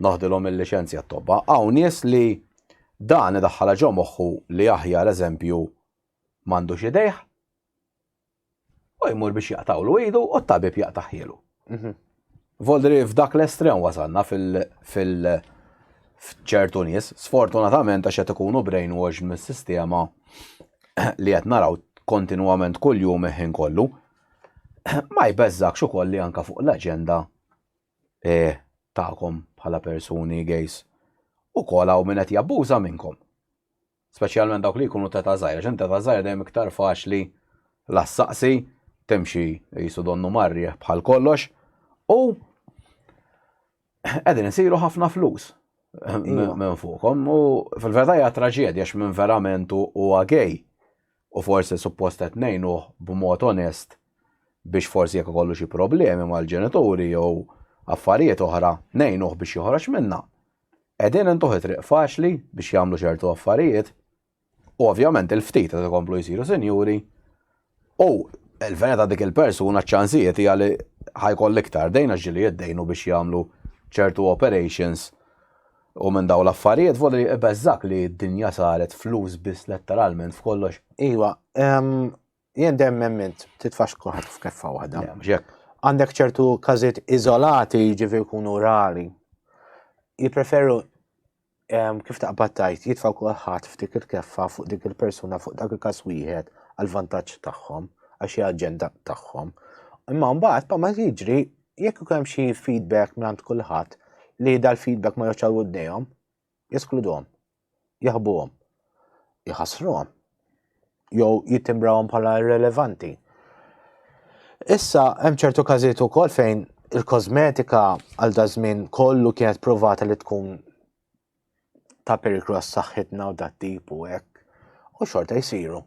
noħdilhom il-liċenzja t-tobba. Għaw nies li dan idaħħala ġo moħħu li aħjar eżempju m'għandux idejh U jmur biex jaqtawlu idu u t-tabib jaqtaħielu. Mhm. Voldri f'dak l-estrem wasanna fil-ċertu nies, sfortunatament għax qed ikunu brainwash mis-sistema li qed naraw kontinwament kuljum iħin kollu, ma jbeżżakx ukoll li anka fuq l-aġenda eh, tagħkom bħala persuni gejs u kolaw minn qed jabbuża minnkom. Speċjalment dawk li jkunu t'età żgħira, għax int t'età żgħira dejjem iktar faċli la ssaqsi, timxi qisu donnu mar-riħ bħal kollox, u qegħdin isiru ħafna flus minn fuqhom u fil-verità hija traġedja għax minn verament huwa gay u forsi suppost qed ngħinuh b'mod onest biex forsi jekk ikollu xi problemi mal-ġenituri jew affarijiet oħra ngħinuh biex joħroġ minnha. Qegħdin intuh it-triq faċli biex jagħmlu ċertu affarijiet u ovvjament il-ftit qed ikomplu jsiru sinjuri u l-fena ta' dik il-persuna ċ-ċansijiet hija li ħajkoll iktar dejn għax ġieli jiddejnu biex jagħmlu ċertu operations u minn dawn l-affarijiet voli ibeżżgħek li d-dinja saret flus biss letteralment f'kollox. Iva, Jien dem emmint, titfax kuħat f'keffa waħda. Għandek ċertu kazit izolati ġivi kunu rari. Jipreferu kif taqbattajt jitfaw kuħat f'dik il-keffa fuq dik il-persuna fuq dak il-kas wieħed għal-vantaġġ tagħhom għax hija aġenda tagħhom. Imma mbagħad pa ma jiġri jekk ikun hemm xi feedback minn kulħadd li dal-feedback ma joċċaw għoddejhom, jeskluduhom, jaħbuhom, jħassruhom jew jittimbrawhom bħala irrelevanti. Issa hemm ċertu każijiet ukoll fejn il-kosmetika għal dażmin kollu kienet provata li tkun ta' periklu għas saħħitna u dat tip u hekk u xorta jsiru.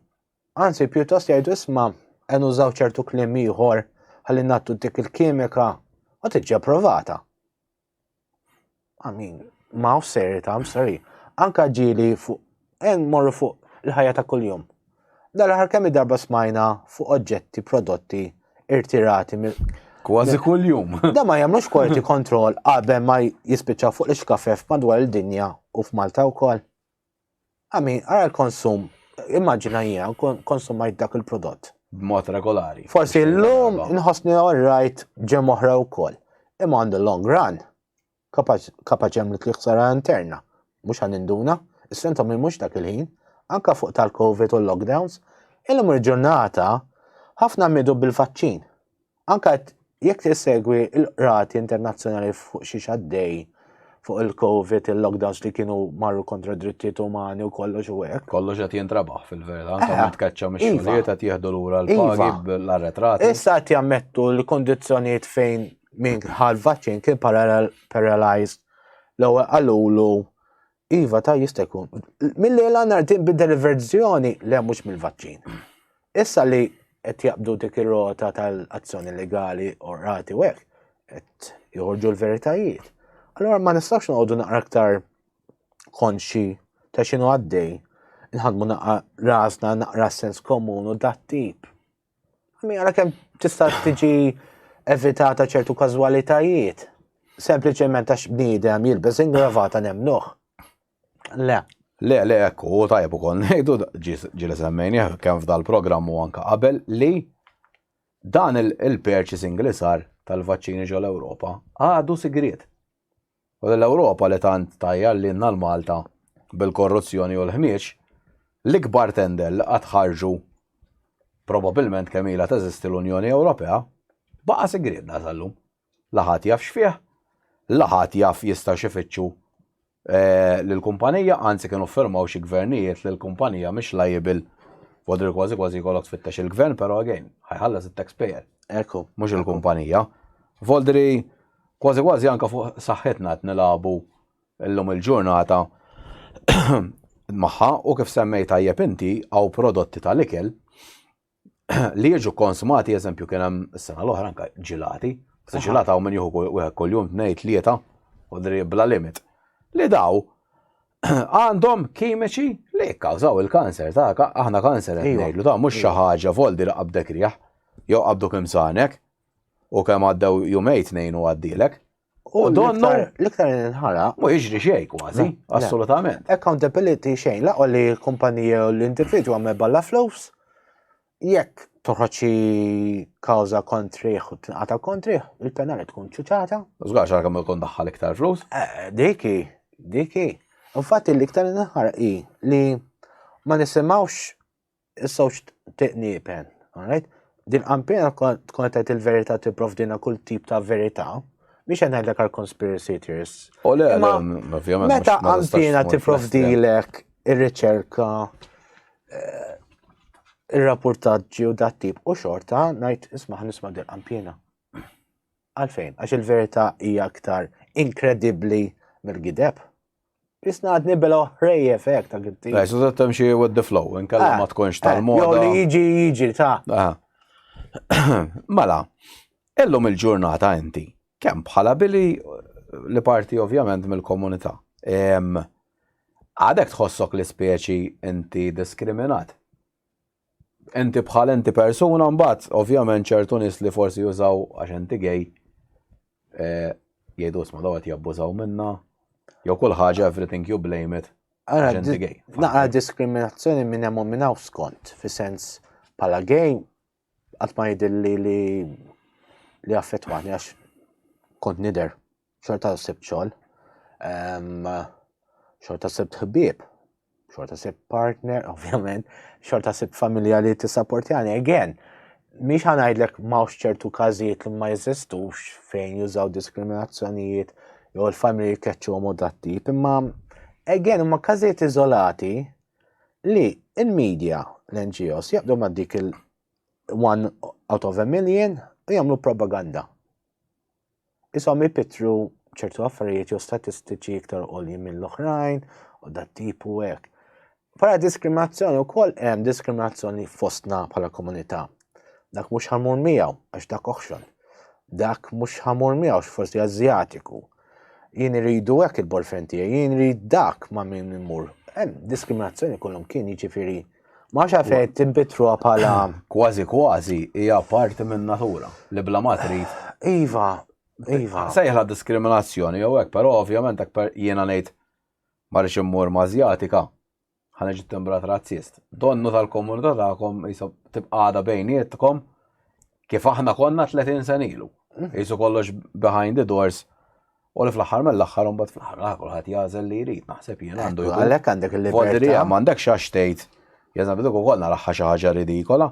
Anzi, pjuttost jgħidu isma' qed nużaw ċertu kliem ieħor ħalli nattu dik il-kimika u tiġi approvata. I mean, ma' off serita, I'm sorry. Anka ġili fuq, en morru fuq il-ħajja ta' kuljum. Dal-ħar kemm darba smajna fuq oġġetti, prodotti, irtirati mill. Kważi kuljum. Da ma jagħmlux quality control qabel ma jispiċċa fuq l-ixkafef madwar il-dinja u f'Malta wkoll. I mean, ara l-konsum, immaġina jien kon- konsumajt dak il-prodott. B'mod regolari. Forsi Mhux l-lum darba. nħossni alright ġem oħra wkoll. Imma on the long run, kapaċ kapaċ għamlet li ħsara interna. Mhux ħan induna, is-sentom hi mhux dak il-ħin, anka fuq tal-COVID u l-lockdowns. Illum il-ġurnata, ħafna midu bil-vaċċin. Anke jekk tissegwi l-qrati internazzjonali fuq xi xaddej fuq il-Covid, il-lockdowns li kienu marru kontra drittijiet umani u kollox u hekk. Kollox qed jintrabaħ fil-verità, anke eh, meta tkeċċa mix-xogħlijiet iva. qed jieħdu lura l-pagi iva. bl-arretrati. Issa qed jammettu li kondizzjonijiet fejn minn ħal vaċċin kien paralyzed l-ewwel qalulu Iva ta' jista' jkun. Mill-lejla nhar tinbidel il-verżjoni li hemm mhux mill-vaċċin. Issa li qed jaqbdu dik ir-rota tal-azzjoni legali u rati u hekk, qed joħorġu l-veritajiet. Allora ma nistax noqogħdu naqra aktar konxi ta' xinu għaddej, nħadmu naqra rasna naqra sens komun u dat tip. Mi għara kem tista' tiġi evitata ċertu kazwalitajiet. Sempliċement għax bniedem jilbes ingravata nemnuħ. Le. Le, le, ekku, u tajb u kon, nejdu ġili semmejni, kem f'dal programmu anka qabel li dan il-purchasing li sar tal-vaċċini ġol Ewropa għadu sigriet. U lill-Ewropa li tant tgħajjar lilna l-Malta bil-korruzzjoni u l-ħmieġ, l-ikbar tender li qatt ħarġu probabilment kemm ilha teżisti l-Unjoni Ewropea, baqa' sigrietna sal-lum. La ħadd jaf x'fih, la ħadd jaf jistgħux ifittxu lill-kumpanija, anzi kienu ffirmaw xi gvernijiet li l-kumpanija mhix liable, wadri kważi kważi jkollok tfittex il-gvern, però again, ħa jħallas it-taxpayer, mhux il-kumpanija. Wadri. Kważi kważi anke fuq saħħitna qed nilagħbu llum il-ġurnata magħha u kif semmejt tajjeb inti hawn prodotti tal-ikel li jiġu konsmati eżempju kien hemm is-sena l-oħra anke ġilati, se ġilata hawn min jieħu wieħed kuljum tnejn tlieta u bla limit. Li daw għandhom kimiċi li jikkawżaw il-kanser ta' aħna kanser qed ngħidlu ta' mhux xi ħaġa voldi li qabdek rieħ jew qabdu kemm sanek U kemm għaddew jumej tnejn u għaddilek. U donnu. L-iktar inħara. Ma jiġri xej kważi, assolutament. Accountability xejn, laqgħu li l-kumpanija u l-individwu għamel balla flus, jekk toħroċi kawza kontriħ u tinqata kontriħ, il-penali tkun ċuċata. Zgar xar kemm ikun daħħal iktar flus? Eh, diki, diki. Infatti l-iktar inħara i li ma nisimawx is-sewġ tiqniepen, alright? Din qampina tkun qed il-verità tipprovdina kull tip ta' verità, biex qed ngħidlek għal conspiracy theorists. U le, ovvjament. Meta qampina tipprovdilek ir-riċerka eh, ir-rapportaġġi u dat tip u xorta ngħid isma' nisma' din qampina. Għalfejn, għax il-verità hija aktar inkredibbli mill-gideb. Jisna għadni bela ħrejjef hekk ta' gibti. Lej, so tat temxi with the flow, inkella ah, ma tkunx eh, tal-moda. Jow li jiġi jiġi ta'. Ah. Mela, illum il-ġurnata inti, kemm bħala billi li parti ovvjament mill-komunità. Għadek tħossok li speċi inti diskriminat? Inti bħal inti persuna mbagħad ovvjament ċertu nies li forsi jużaw għax inti gej eh, jgħidu sma dawet jabbużaw minna jew kull ħaġa everything you blame it. Naqra diskriminazzjoni minn hemm minn hawn skont fi sens bħala gej qatt ma jidilli li li affettwani għax kont nider Xorta sibt xogħol, xorta sibt ħbieb, xorta sibt partner, ovvjament, xorta sibt familja li tissapportjani. Again, miex ħanajdlek mawx ċertu każijiet li ma jeżistux fejn jużaw diskriminazzjonijiet jew l-familji jkeċċu għom datti, imma again huma każijiet iżolati li il-medja l-NGOs jaqdu ma' dik il-one out of a million u jagħmlu propaganda. Ishom jipittru ċertu affarijiet jew statistiċi iktar għoljin mill-oħrajn u dat tipu hekk. Para diskriminazzjoni wkoll hemm diskriminazzjoni fostna bħala komunità. Dak mhux ħamur miegħu għax dak oħxon. Dak mhux ħamur miegħu forsi Azjatiku. Jien iridu hekk il-borfen tiegħi, jien irid dak ma' min immur. Hemm diskriminazzjoni kollhom kien jiġifieri Ma xa fejn timbitruha bħala. Kważi kważi hija parti minn natura li bla ma trid. Iva, iva. Sejħla diskriminazzjoni jew hekk, però ovvjament aktar jiena ngħid ma rridx immur mażjatika ħana ġiet timbrat razzist. Donnu tal-komunità tagħkom jisob tibqada bejnietkom kif aħna konna 30 sen ilu. Jisu mhm. kollox behind the doors U li fl-aħħar mill-aħħar imbagħad fl-aħħar mill-aħħar kulħadd jagħżel li jrid naħseb jien għandu jkun. Għalhekk għandek il-libertà. M'għandek xax tgħid. Jeżan bidu ukoll naraħħa xi ħaġa ridikola.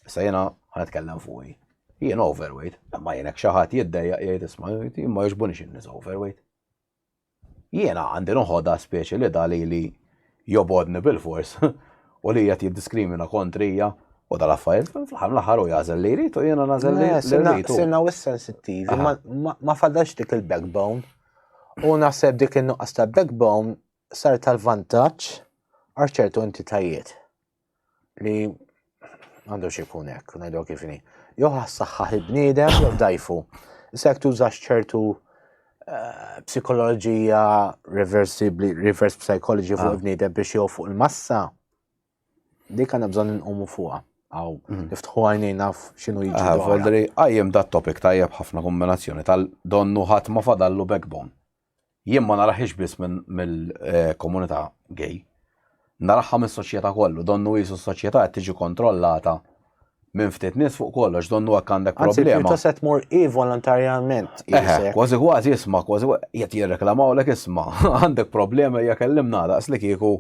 Issa jiena ħanetkellem fuqi. Jien overweight, imma jien hekk xi ħadd jiddejjaq jgħid isma' ma jogħġbunix in-nies overweight. Jiena għandi noħodha speċi li dali li jobgħodni bilfors u li qiegħed jiddiskrimina kontrija u dal-affarijiet, fl-aħħar mill-aħħar hu jagħżel li jrid u jiena nagħżel li jrid. Sirna wis sensittivi, ma fadalx dik il-backbone. U naħseb dik in-nuqqas ta' backbone sar tal-vantaġġ għal ċertu entitajiet. li għandu xikun hekk, ngħidu kif inhi. Jew ħassaħħaħ il-bniedem jew dajfu. Issa jekk tużax ċertu eh, psikoloġija reversibli, reverse psychology fuq ah. il-bniedem biex jew fuq il-massa, dik għandna bżonn inqumu fuqha. Għaw, mhm. niftħu għajni naf xinu jiġi. Ah, Voldri, għajjem da topic tajjeb ħafna kombinazzjoni tal-donnu ħat ma fadallu backbone. Jien ma narahiex biss mill-komunità gay. Naraha mis-soċjetà kollu, donnu qisu s-soċjetà qed tiġi kontrollata minn ftit nies fuq kollox, donnu hekk għandek problema. Anzi, pjuttost qed tmur hi volontarjament. Kważi kważi isma' kważi qed jirreklamawlek isma' għandek problema hija kellimna daqs li kieku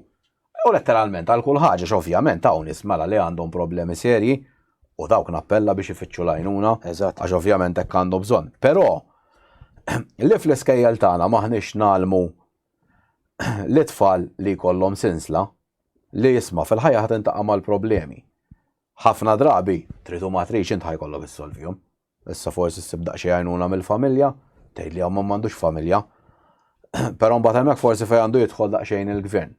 Jew letteralment għal kull ħaġa għax ovvjament hawn nies mela li għandhom problemi serji u dawk nappella biex ifittxu l-għajnuna għax ovvjament hekk għandu bżonn. Però li fl-iskejjel tagħna m'aħniex ngħallmu lit-tfal li jkollhom sinsla li isma' fil-ħajja ħa tintaqa' mal-problemi. Ħafna drabi, trid u ma tridx int ħa jkollok issolvihom. Issa forsi ssib daqsxejn għajnuna mill-familja, tgħid li ommhom m'għandux familja. Però mbagħad hemmhekk forsi fejn għandu jidħol daqsxejn il-gvern.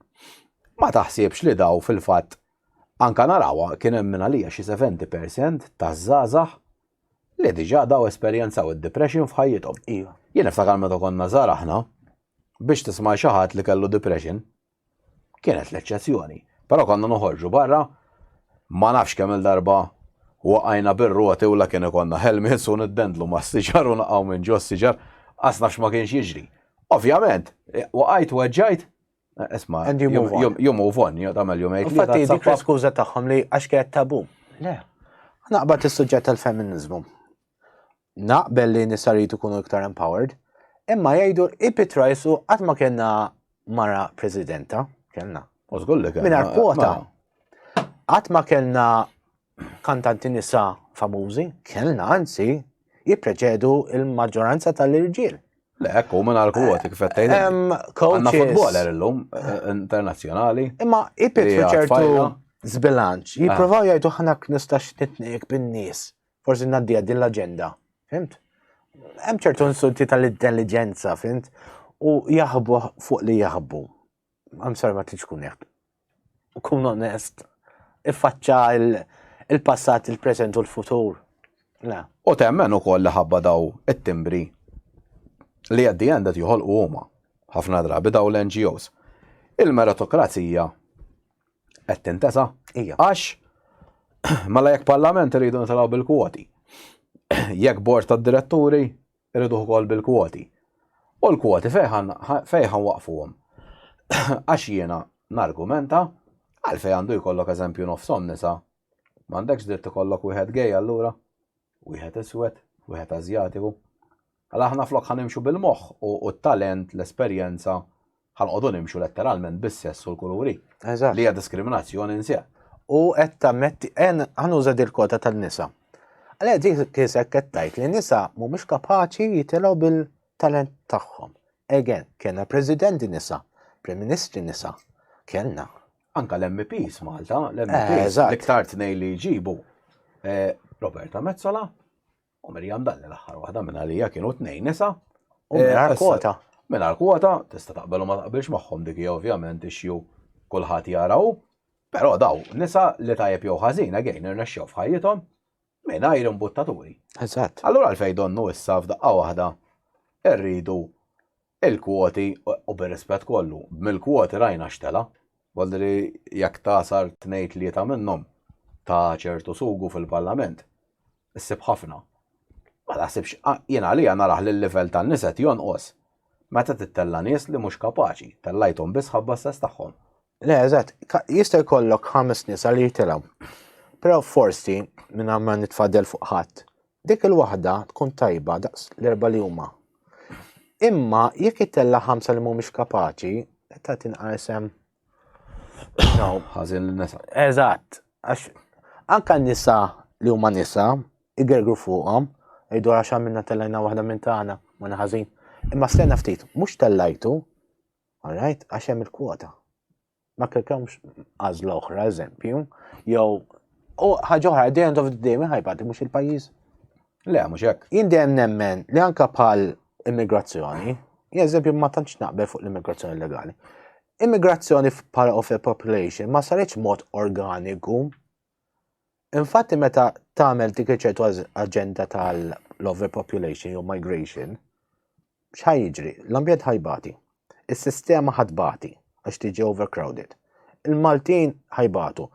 Ma taħsibx li daw fil-fatt anka narawha kien hemm minn għalija xi 70% taż-żgħażagħ li diġà daw esperjenzaw id-depression f'ħajjithom. Jien niftakar meta konna żgħar aħna biex tisma' xi ħadd li kellu depression Kienet l-eċċezzjoni. Però konna noħorġu barra, ma nafx kemm-il darba waqajna bir-roti u la kien ikollna helmets u niddendlu mas-siġar u naqgħu minn ġo s-siġar, qas naf x'ma kienx jiġri. Ovvjament, waqajt, weġġajt, isma', you move on, tagħmel jumejn tlieta. Infatti, dik kienet skuża tagħhom li għax kienet tabù. Le. Naqbad is-suġġett tal-feminiżmu. Naqbel li nisa rridu ikunu iktar empowered, imma jgħidu ipi trajsu qatt ma kellna mara presidenta, kellna. U żgur li kellna. Mingħajr kwota. Qatt ma kellna kantanti nisa famużi, kellna anzi jippreċedu il-maġġoranza tal-irġiel. Le, ekku, minn għal kwoti kif għattajn. Għanna futboler l-lum, eh, internazjonali. Imma ipit ċertu zbilanċ, jiprofaw jgħidu ħanak nistax nitniq bin-nies. Forsi ngħaddiha din l-aġenda, fimt? Hemm ċertu insulti tal-intelligenza, fimt? U jaħbu fuq li jaħbu. I'm sorry ma tridx kun jekk. Kun onest, iffaċċa il-passat, il-preżent u l-futur. Le. U temmen ukoll li ħabba daw it-timbri li għaddi għandet joħolqu huma ħafna drabi daw l-NGOs. Il-meritokrazija Qed tintesa? Ija. Għax, mela jekk parlament irridu nitilgħu bil-kwoti. Jekk bord tad-diretturi irridu ukoll bil-kwoti. U l-kwoti fejħan waqfuhom. Għax jiena nargumenta għalfej għandu jkollok eżempju nofsom nisa. M'għandekx dritt ikollok wieħed gej allura? Wieħed iswed, wieħed Ażjatiku. Mela aħna flok ħa nimxu bil-moħħ u t-talent, l-esperjenza, ħa nqogħdu nimxu letteralment bis-sess u l-kuluri. Eżatt. Li hija diskriminazzjoni nsieq. U qed tammetti en ħanuża dil-kota tan-nisa. Għalha dik kisek qed tgħid li nisa mhumiex kapaċi jitilgħu bil-talent tagħhom. Again, kellna presidenti nisa, prim ministri nisa, kellna. Anka l-MPs Malta, l-MPs, eh, l-iktar tnej li jġibu. Eh, Roberta Mezzola, U Mirjam Dalli l-aħħar waħda minn għalija kienu tnejn nisa. U mingħajr kwota. Mingħajr kwota, tista' taqbel u ma taqbilx magħhom dik hija ovvjament ixju kulħadd jaraw. Però daw nisa li tajjeb jew ħażin again irnexxew f'ħajjithom mingħajr imbuttaturi. Eżatt. Allura għalfejn donnu issa f'daqqa waħda rridu Il-kwoti, u bir-rispett kollu, mill-kwoti rajna x'tela'. Voldri jekk tagħsar tnejn-tlieta minnhom ta' ċertu sugu fil-Parlament, issib ħafna. Ma taħsibx, jien għalija narah li l-livell tan-nies qed jonqos meta tittella' nies li mhux kapaċi, tellajthom biss ħabba s-sess tagħhom. Le, eżatt, jista' jkollok ħames nies għal jitilgħu, però forsi mingħajr ma nitfadel fuq ħadd, Dik il-waħda tkun tajba daqs l-erba' li huma. Imma jekk itella' ħamsa li mhumiex kapaċi, ta' tinqa' isem. No, ħażin l-nisa. Eżatt, għax anka nisa li huma nisa, igergru fuqhom, jgħidu għax għamilna tellajna waħda minn tagħna, ma naħażin. Imma stejna ftit, mhux tellajtu, all right, għax hemm il-kwota. Ma kellkomx għażla oħra, eżempju, jew u ħaġa oħra, the end of the day, mi ħajbati mhux il-pajjiż. Le, mhux hekk. Jien dejjem nemmen li anka bħal immigrazzjoni, eżempju ma tantx naqbel fuq l-immigrazzjoni legali. Immigrazzjoni bħala of the population ma saritx mod organiku Infatti meta tagħmel dik iċertu aġenda tal-overpopulation jew migration, x'ħaj jiġri? L-ambjent ħajbati. Is-sistema ħadbati għax tiġi overcrowded. Il-Maltin ħajbatu.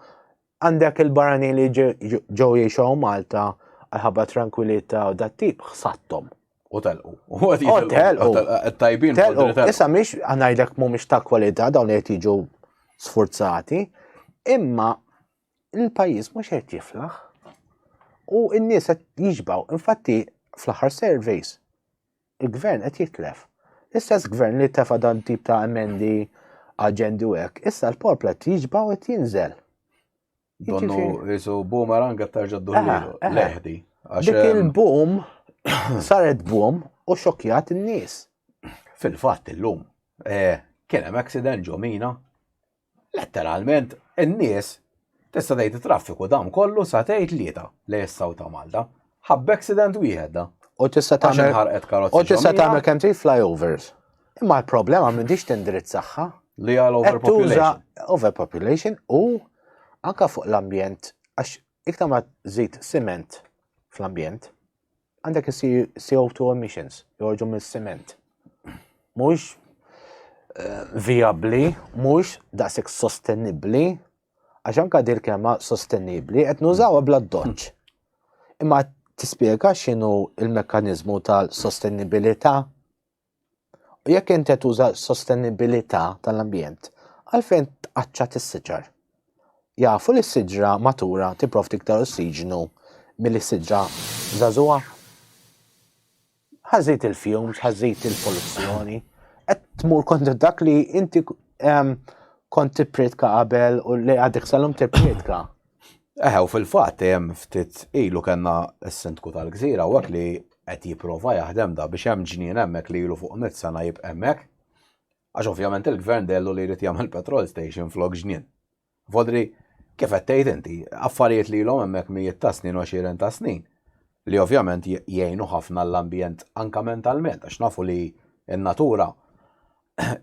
Għandek il-barani li ġew jiexaw Malta għalħabba tranquillita u dat tip ħsattom. U telqu. U telqu. Tajbin. Telqu. Issa miex għanajdek mu miex ta' kwalità dawn li jiġu sforzati, imma il-pajjiż mhux qed jiflaħ u n-nies qed jiġbaw. Infatti fl-aħħar surveys il-gvern qed jitlef. L-istess gvern li tefa' dan tip ta' emendi aġendi u hekk, issa l-popla qed jiġbaw qed jinżel. Donnu jisu boomerang qed tarġa' ddullilu. Leħdi. Dik il-boom saret boom u xokjat in-nies. Fil-fatt illum eh, kien hemm accident ġo mina Letteralment, in-nies tista' tgħid it-traffiku dam kollu sa tgħid tlieta lejn is-South ta' Malta. Ħabb accident wieħed da. U tista' tagħmel ħarqet karozzi. U tista' tagħmel kemm trid flyovers. Imma l-problema m'intix tindirizzaħħa. Li għal overpopulation. Overpopulation u anka fuq l-ambjent għax iktar ma żid siment fl-ambjent, Għandek CO2 emissions joħorġu mis-siment. Mhux eh, vijabbli, mhux daqshekk sostenibbli, għax anka dir kema sostenibbli qed nużawha bla doċċ. Imma tispjega x'inhu il-mekkaniżmu tal-sostenibilità U jekk inti qed tuża s-sostenibilità tal-ambjent, għalfejn tqaċċa tissiġar? Jafu li s-siġra matura tipprovdi iktar ossiġnu milli s-siġra żagħżugħa? Ħażid il-fjums, ħażid il-poluzzjoni, qed tmur kontra dak li inti ehm, kont tippritka qabel u li għadek salum tippritka. Eħe, u fil-fatt hemm ftit ilu kellna s-Sindku tal-Gżira u li qed jipprova jaħdem da biex hemm ġnien hemmhekk li ilu fuq mitt sena jibqa' hemmhekk. Għax ovvjament il-Gvern dehlu li jrid jagħmel petrol station flok ġnien. Vodri, kif qed tgħid inti, affarijiet li ilhom hemmhekk mijiet ta' snin u għexieren ta' snin li ovvjament jgħinu ħafna l-ambjent anke mentalment għax nafu li n-natura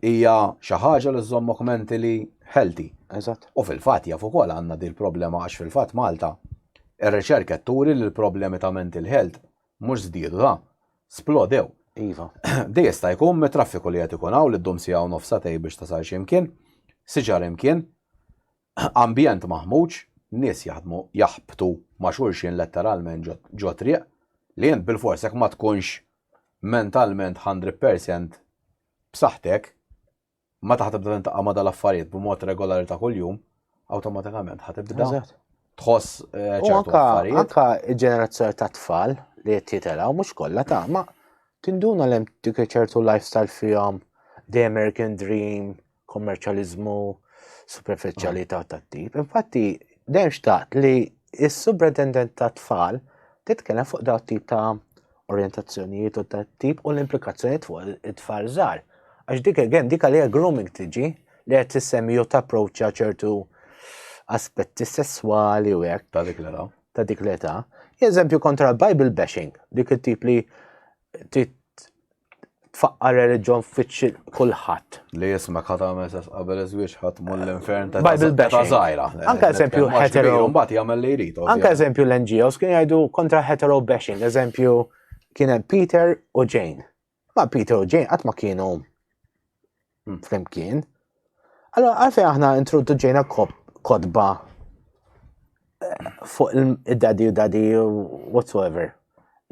hija xi ħaġa li żżommok mentally healthy. Eżatt. U fil-fatt jaf ukoll għandna din il-problema għax fil-fatt Malta ir-riċerka turi li l-problemi ta' mental health mhux żdiedu ta' splodew. Iva. Dej jista' jkun mit-traffiku li qed ikun hawn li ddum siegħa u nofs satej biex tasal xi mkien, siġar imkien, Ambjent maħmuġ, nies jaħdmu jaħbtu ma' xulxin letteralment ġo triq, li int bilfors jekk ma tkunx mentalment hundred percent b'saħħtek, meta ħa tibda tintaqa' ma' dal-affarijiet b'mod regulari ta' kuljum, awtomatikament ħa tibda tħoss ċertu affarijiet. Anka ġenerazzjoni ta' tfal li qed jitelgħu mhux kollha ta' ma tinduna li hemm dik ċertu lifestyle fihom, the American dream, kommerċjaliżmu superfiċjalità tat-tip. Infatti, dejjem xtaqt li s-superintendent ta' tfal titkellem fuq daw tip ta' orientazzjonijiet u ta' tip u l-implikazzjonijiet fuq it-tfal żgħar. Għax dik again, dik għalija grooming tiġi li qed tissemmi jew tapproċċja ċertu aspetti sesswali u hekk. Ta' dik l-età. Ta' dik l-età. Eżempju kontra Bible bashing, dik it-tip li tfaqqar reliġjon fiċċi kulħadd. Li jisma ħat għamel sess qabel iż-żwieġ ħadd mull l-infern ta' Bible bashing. żgħira. Anke eżempju hetero. Mbagħad jagħmel li jrid. Anke eżempju l-NGOs kien jgħidu kontra hetero bashing. Eżempju kien hemm Peter u Jane. Ma Peter u Jane qatt ma kienu flimkien. Allora, għalfej aħna introduċejna kodba eh, fuq il-dadi u dadi whatsoever.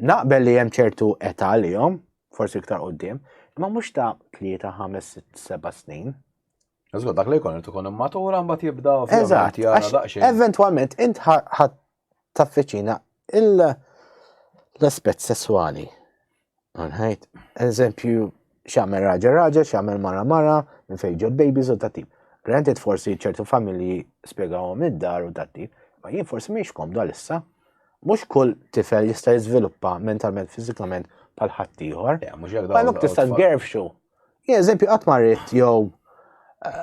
Naqbel li hemm ċertu età li jom, forsi iktar qoddim, ma mhux ta' 3, 5, 6, 7 snin. Eżgur, dak li jkun irtu kun matura mbagħad jibda Eżatt, għax eventwalment int taffiċina l-aspett sesswali. Għanħajt, eżempju, xamel raġa raġa, xamel mara mara, minn fejn ġod babies u tatib. Granted forsi ċertu familji spiegawhom id-dar u tatib, ma jien forsi miex kom dal-issa. Mux kull tifel jista' jiżviluppa mentalment, fizikament, pal ħaddieħor. Għalhekk tista' tgerfxu. Jien eżempju qatt marrit jew eh,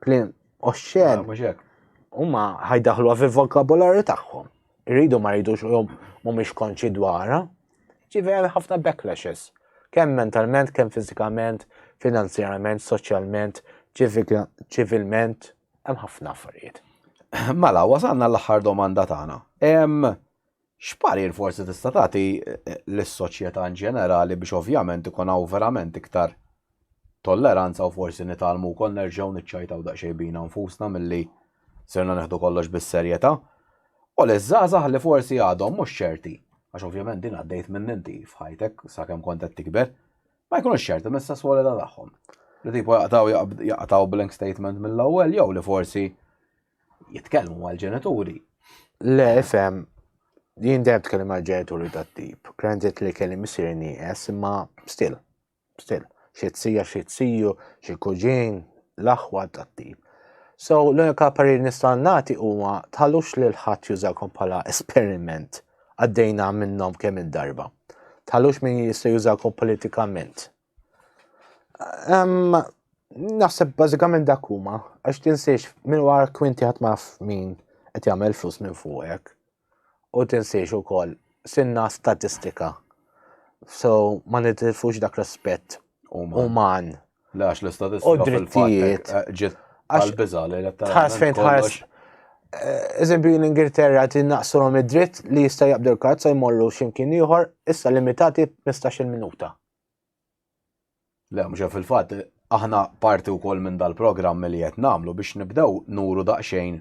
Klim oxxen. Huma ħajdaħlu fil vokabularju tagħhom. Irridu ma rridux u mhumiex konċi dwarha. Ġifi hemm ħafna backlashes. Kemm mentalment, kemm fiżikament, finanzjarament, soċjalment, ċivilment, hemm ħafna affarijiet. Mela, wasalna l-aħħar domanda tagħna. X'parir forsi tista' tagħti lis-soċjetà in ġenerali biex ovvjament ikun hawn verament iktar tolleranza u forsi nitgħallmu wkoll nerġgħu niċċajtaw daqsxejn bina nfusna milli sirna nieħdu kollox bis-serjetà? U liż-żgħażagħ li forsi għadhom mhux ċerti, għax ovvjament din għaddejt minnha inti f'ħajtek sakemm kont qed tikber, ma jkunux ċerti mis-sesswalità tagħhom. Li tipo jaqtgħu jaqtgħu blank statement mill-ewwel jew li forsi jitkellmu mal-ġenituri. Le, fem, jien dejjem tkellem mal-ġenituri tat-tip. Granted li kelli missier nieqes, imma still, still. Xi tsija, xi tsiju, xi kuġin, l-aħwa tat-tip. So, l-unika parir nista' nagħti huwa tħallux lil ħadd jużakom bħala esperiment għaddejna minnhom kemm il-darba. Tħallux min jista' jużakom politikament Naħseb bażikament dak huma, għax tinsiex minn wara kwinti ħadd ma min qed jagħmel flus minn fuqek. U tinsiex ukoll sinna statistika. So ma nitilfux dak l-aspett uman. Lax l-istatistika. U drittijiet. Eh, ġiet għal-biża li Tħares fejn tħares. Eh, eżempju, l-Ingilterra tinnaqsulhom id-dritt li jista' jaqbdu l-karza jmorru x'imkien ieħor, issa limitati 15-il minuta. Le, mhux fil-fatt, aħna parti wkoll minn dal-programm li qed nagħmlu biex nibdew nuru daqsxejn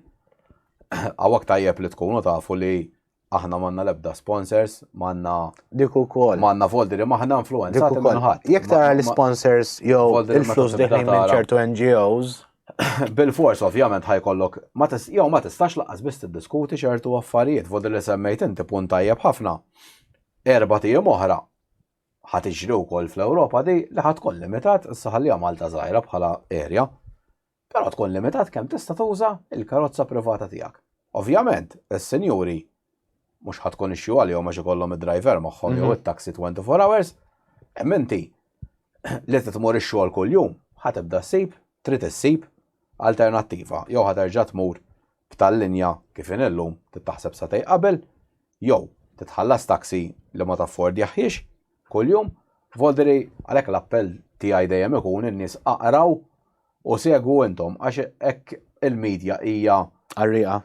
għawak tajjeb li tkunu tafu li aħna manna lebda sponsors, manna. Dik ukoll. Manna foldi li maħna influenza. Dik ukoll. Jek tara l-sponsors jew il-flus li minn ċertu NGOs. Bil-fors ovvjament ħajkollok, jew ma tistax laqas biss tiddiskuti ċertu affarijiet, vodi li semmejt inti punt tajjeb ħafna. Erba' tiem oħra Ħa tiġri wkoll fl-Ewropa di li ħa tkun limitat, issa ħalliha Malta żgħira bħala area, però tkun limitat kemm tista' tuża l-karozza privata tiegħek. Ovvjament, is-sinjuri mhux ħa tkun issue għalihom għax ikollhom id-driver magħhom jew it-taxi 24 hours, imma inti li trid tmur ix-xogħol kuljum ħa tibda ssib, trid issib alternattiva jew ħa terġa' tmur b'tal linja kif inhi llum tittaħseb sagħtej qabel, jew titħallas taxi li ma taffordjahhiex kuljum, vodri għalhekk l-appell tiegħi dejjem ikun in-nies aqraw u segwu intom għax hekk il-media hija. Qarrieqa.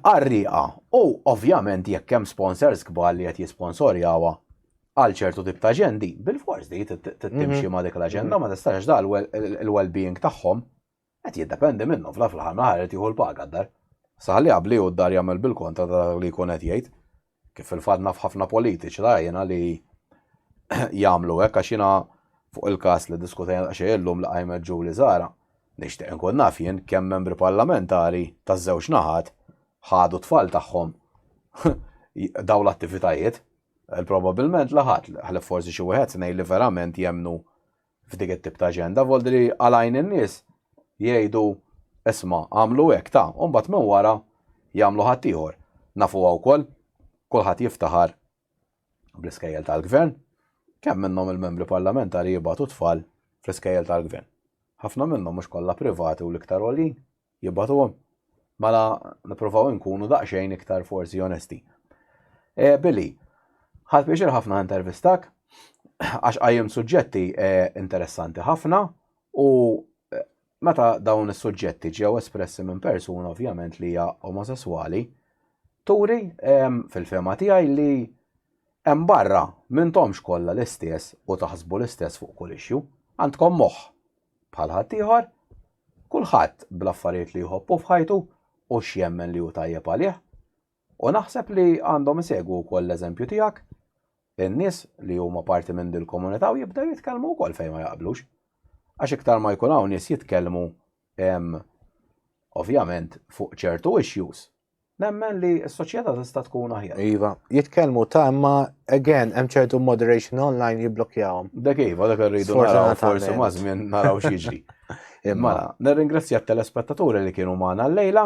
Qarrieqa u ovvjament jekk hemm sponsors kbar li qed jisponsorjawha għal ċertu tip ta' aġendi, bilfors di trid timxi ma' dik l-aġenda ma tistax għax da il-well-being tagħhom Qed jiddependi minnhom, fl-aħħar fl-aħħar mill-aħħar irid jieħu l-paga d-dar. Saħli qabli hu d-dar jagħmel bil-kontra ta' dak li jkun qed jgħid. Kif fil-fatt naf ħafna politiċi ta' jiena li jagħmlu hekk għax jiena fuq il-każ li diskutejna daqsxejn illum li qajmet Julie Zahra, nixtieq inkun naf jien kemm membri parlamentari taż-żewġ naħat ħadu t-tfal tagħhom dawn l-attivitajiet. Probabilment la ħadd, ħlief forsi xi wieħed tnejn li verament jemmnu f'dik it-tip ta' aġenda voldi li għalajn in-nies jgħidu isma' għamlu hekk ta' u mbagħad minn wara jagħmlu ħaddieħor. Nafuha wkoll, kulħadd jiftaħar bl-iskejjel tal-Gvern. Kemm minnhom il-Membri Parlamentari jibgħatu t-tfal fl-iskejjel tal-Gvern? Ħafna minnhom mhux kollha privati u l-iktar għoljin? Jibgħatuhom? Mela nippruvaw inkunu daqsxejn iktar forsi onesti. E, Billy, ħadd pjaċir ħafna intervistak għax qajjem suġġetti e, interessanti ħafna u e, meta dawn is-suġġetti ġew espressi minn persuna ovvjament li hija omosesswali, turi e, fil-fema tiegħi li hemm barra m'intomx kollha l-istess u taħsbu l-istess fuq kull issue. Għandkom moħħ, bħal ħaddieħor, kulħadd bl-affarijiet li jħobbu f'ħajtu u x'jemmen li hu tajjeb għalih. U naħseb li għandhom isegwu wkoll l-eżempju tiegħek in-nies li huma parti minn dil-komunità u jibdew jitkellmu wkoll fejn ma jaqblux. Għax iktar ma jkun hawn nies jitkellmu ovvjament fuq ċertu issues Nemmen li s-soċjetà tista' tkun aħjar. Iva, jitkellmu ta' imma again hemm ċertu moderation online jibblokjawhom. Dak iva, dak irridu naraw forsi ma' żmien naraw x'jiġri. Imma nirringrazzja t-telespettaturi li kienu magħna l-lejla.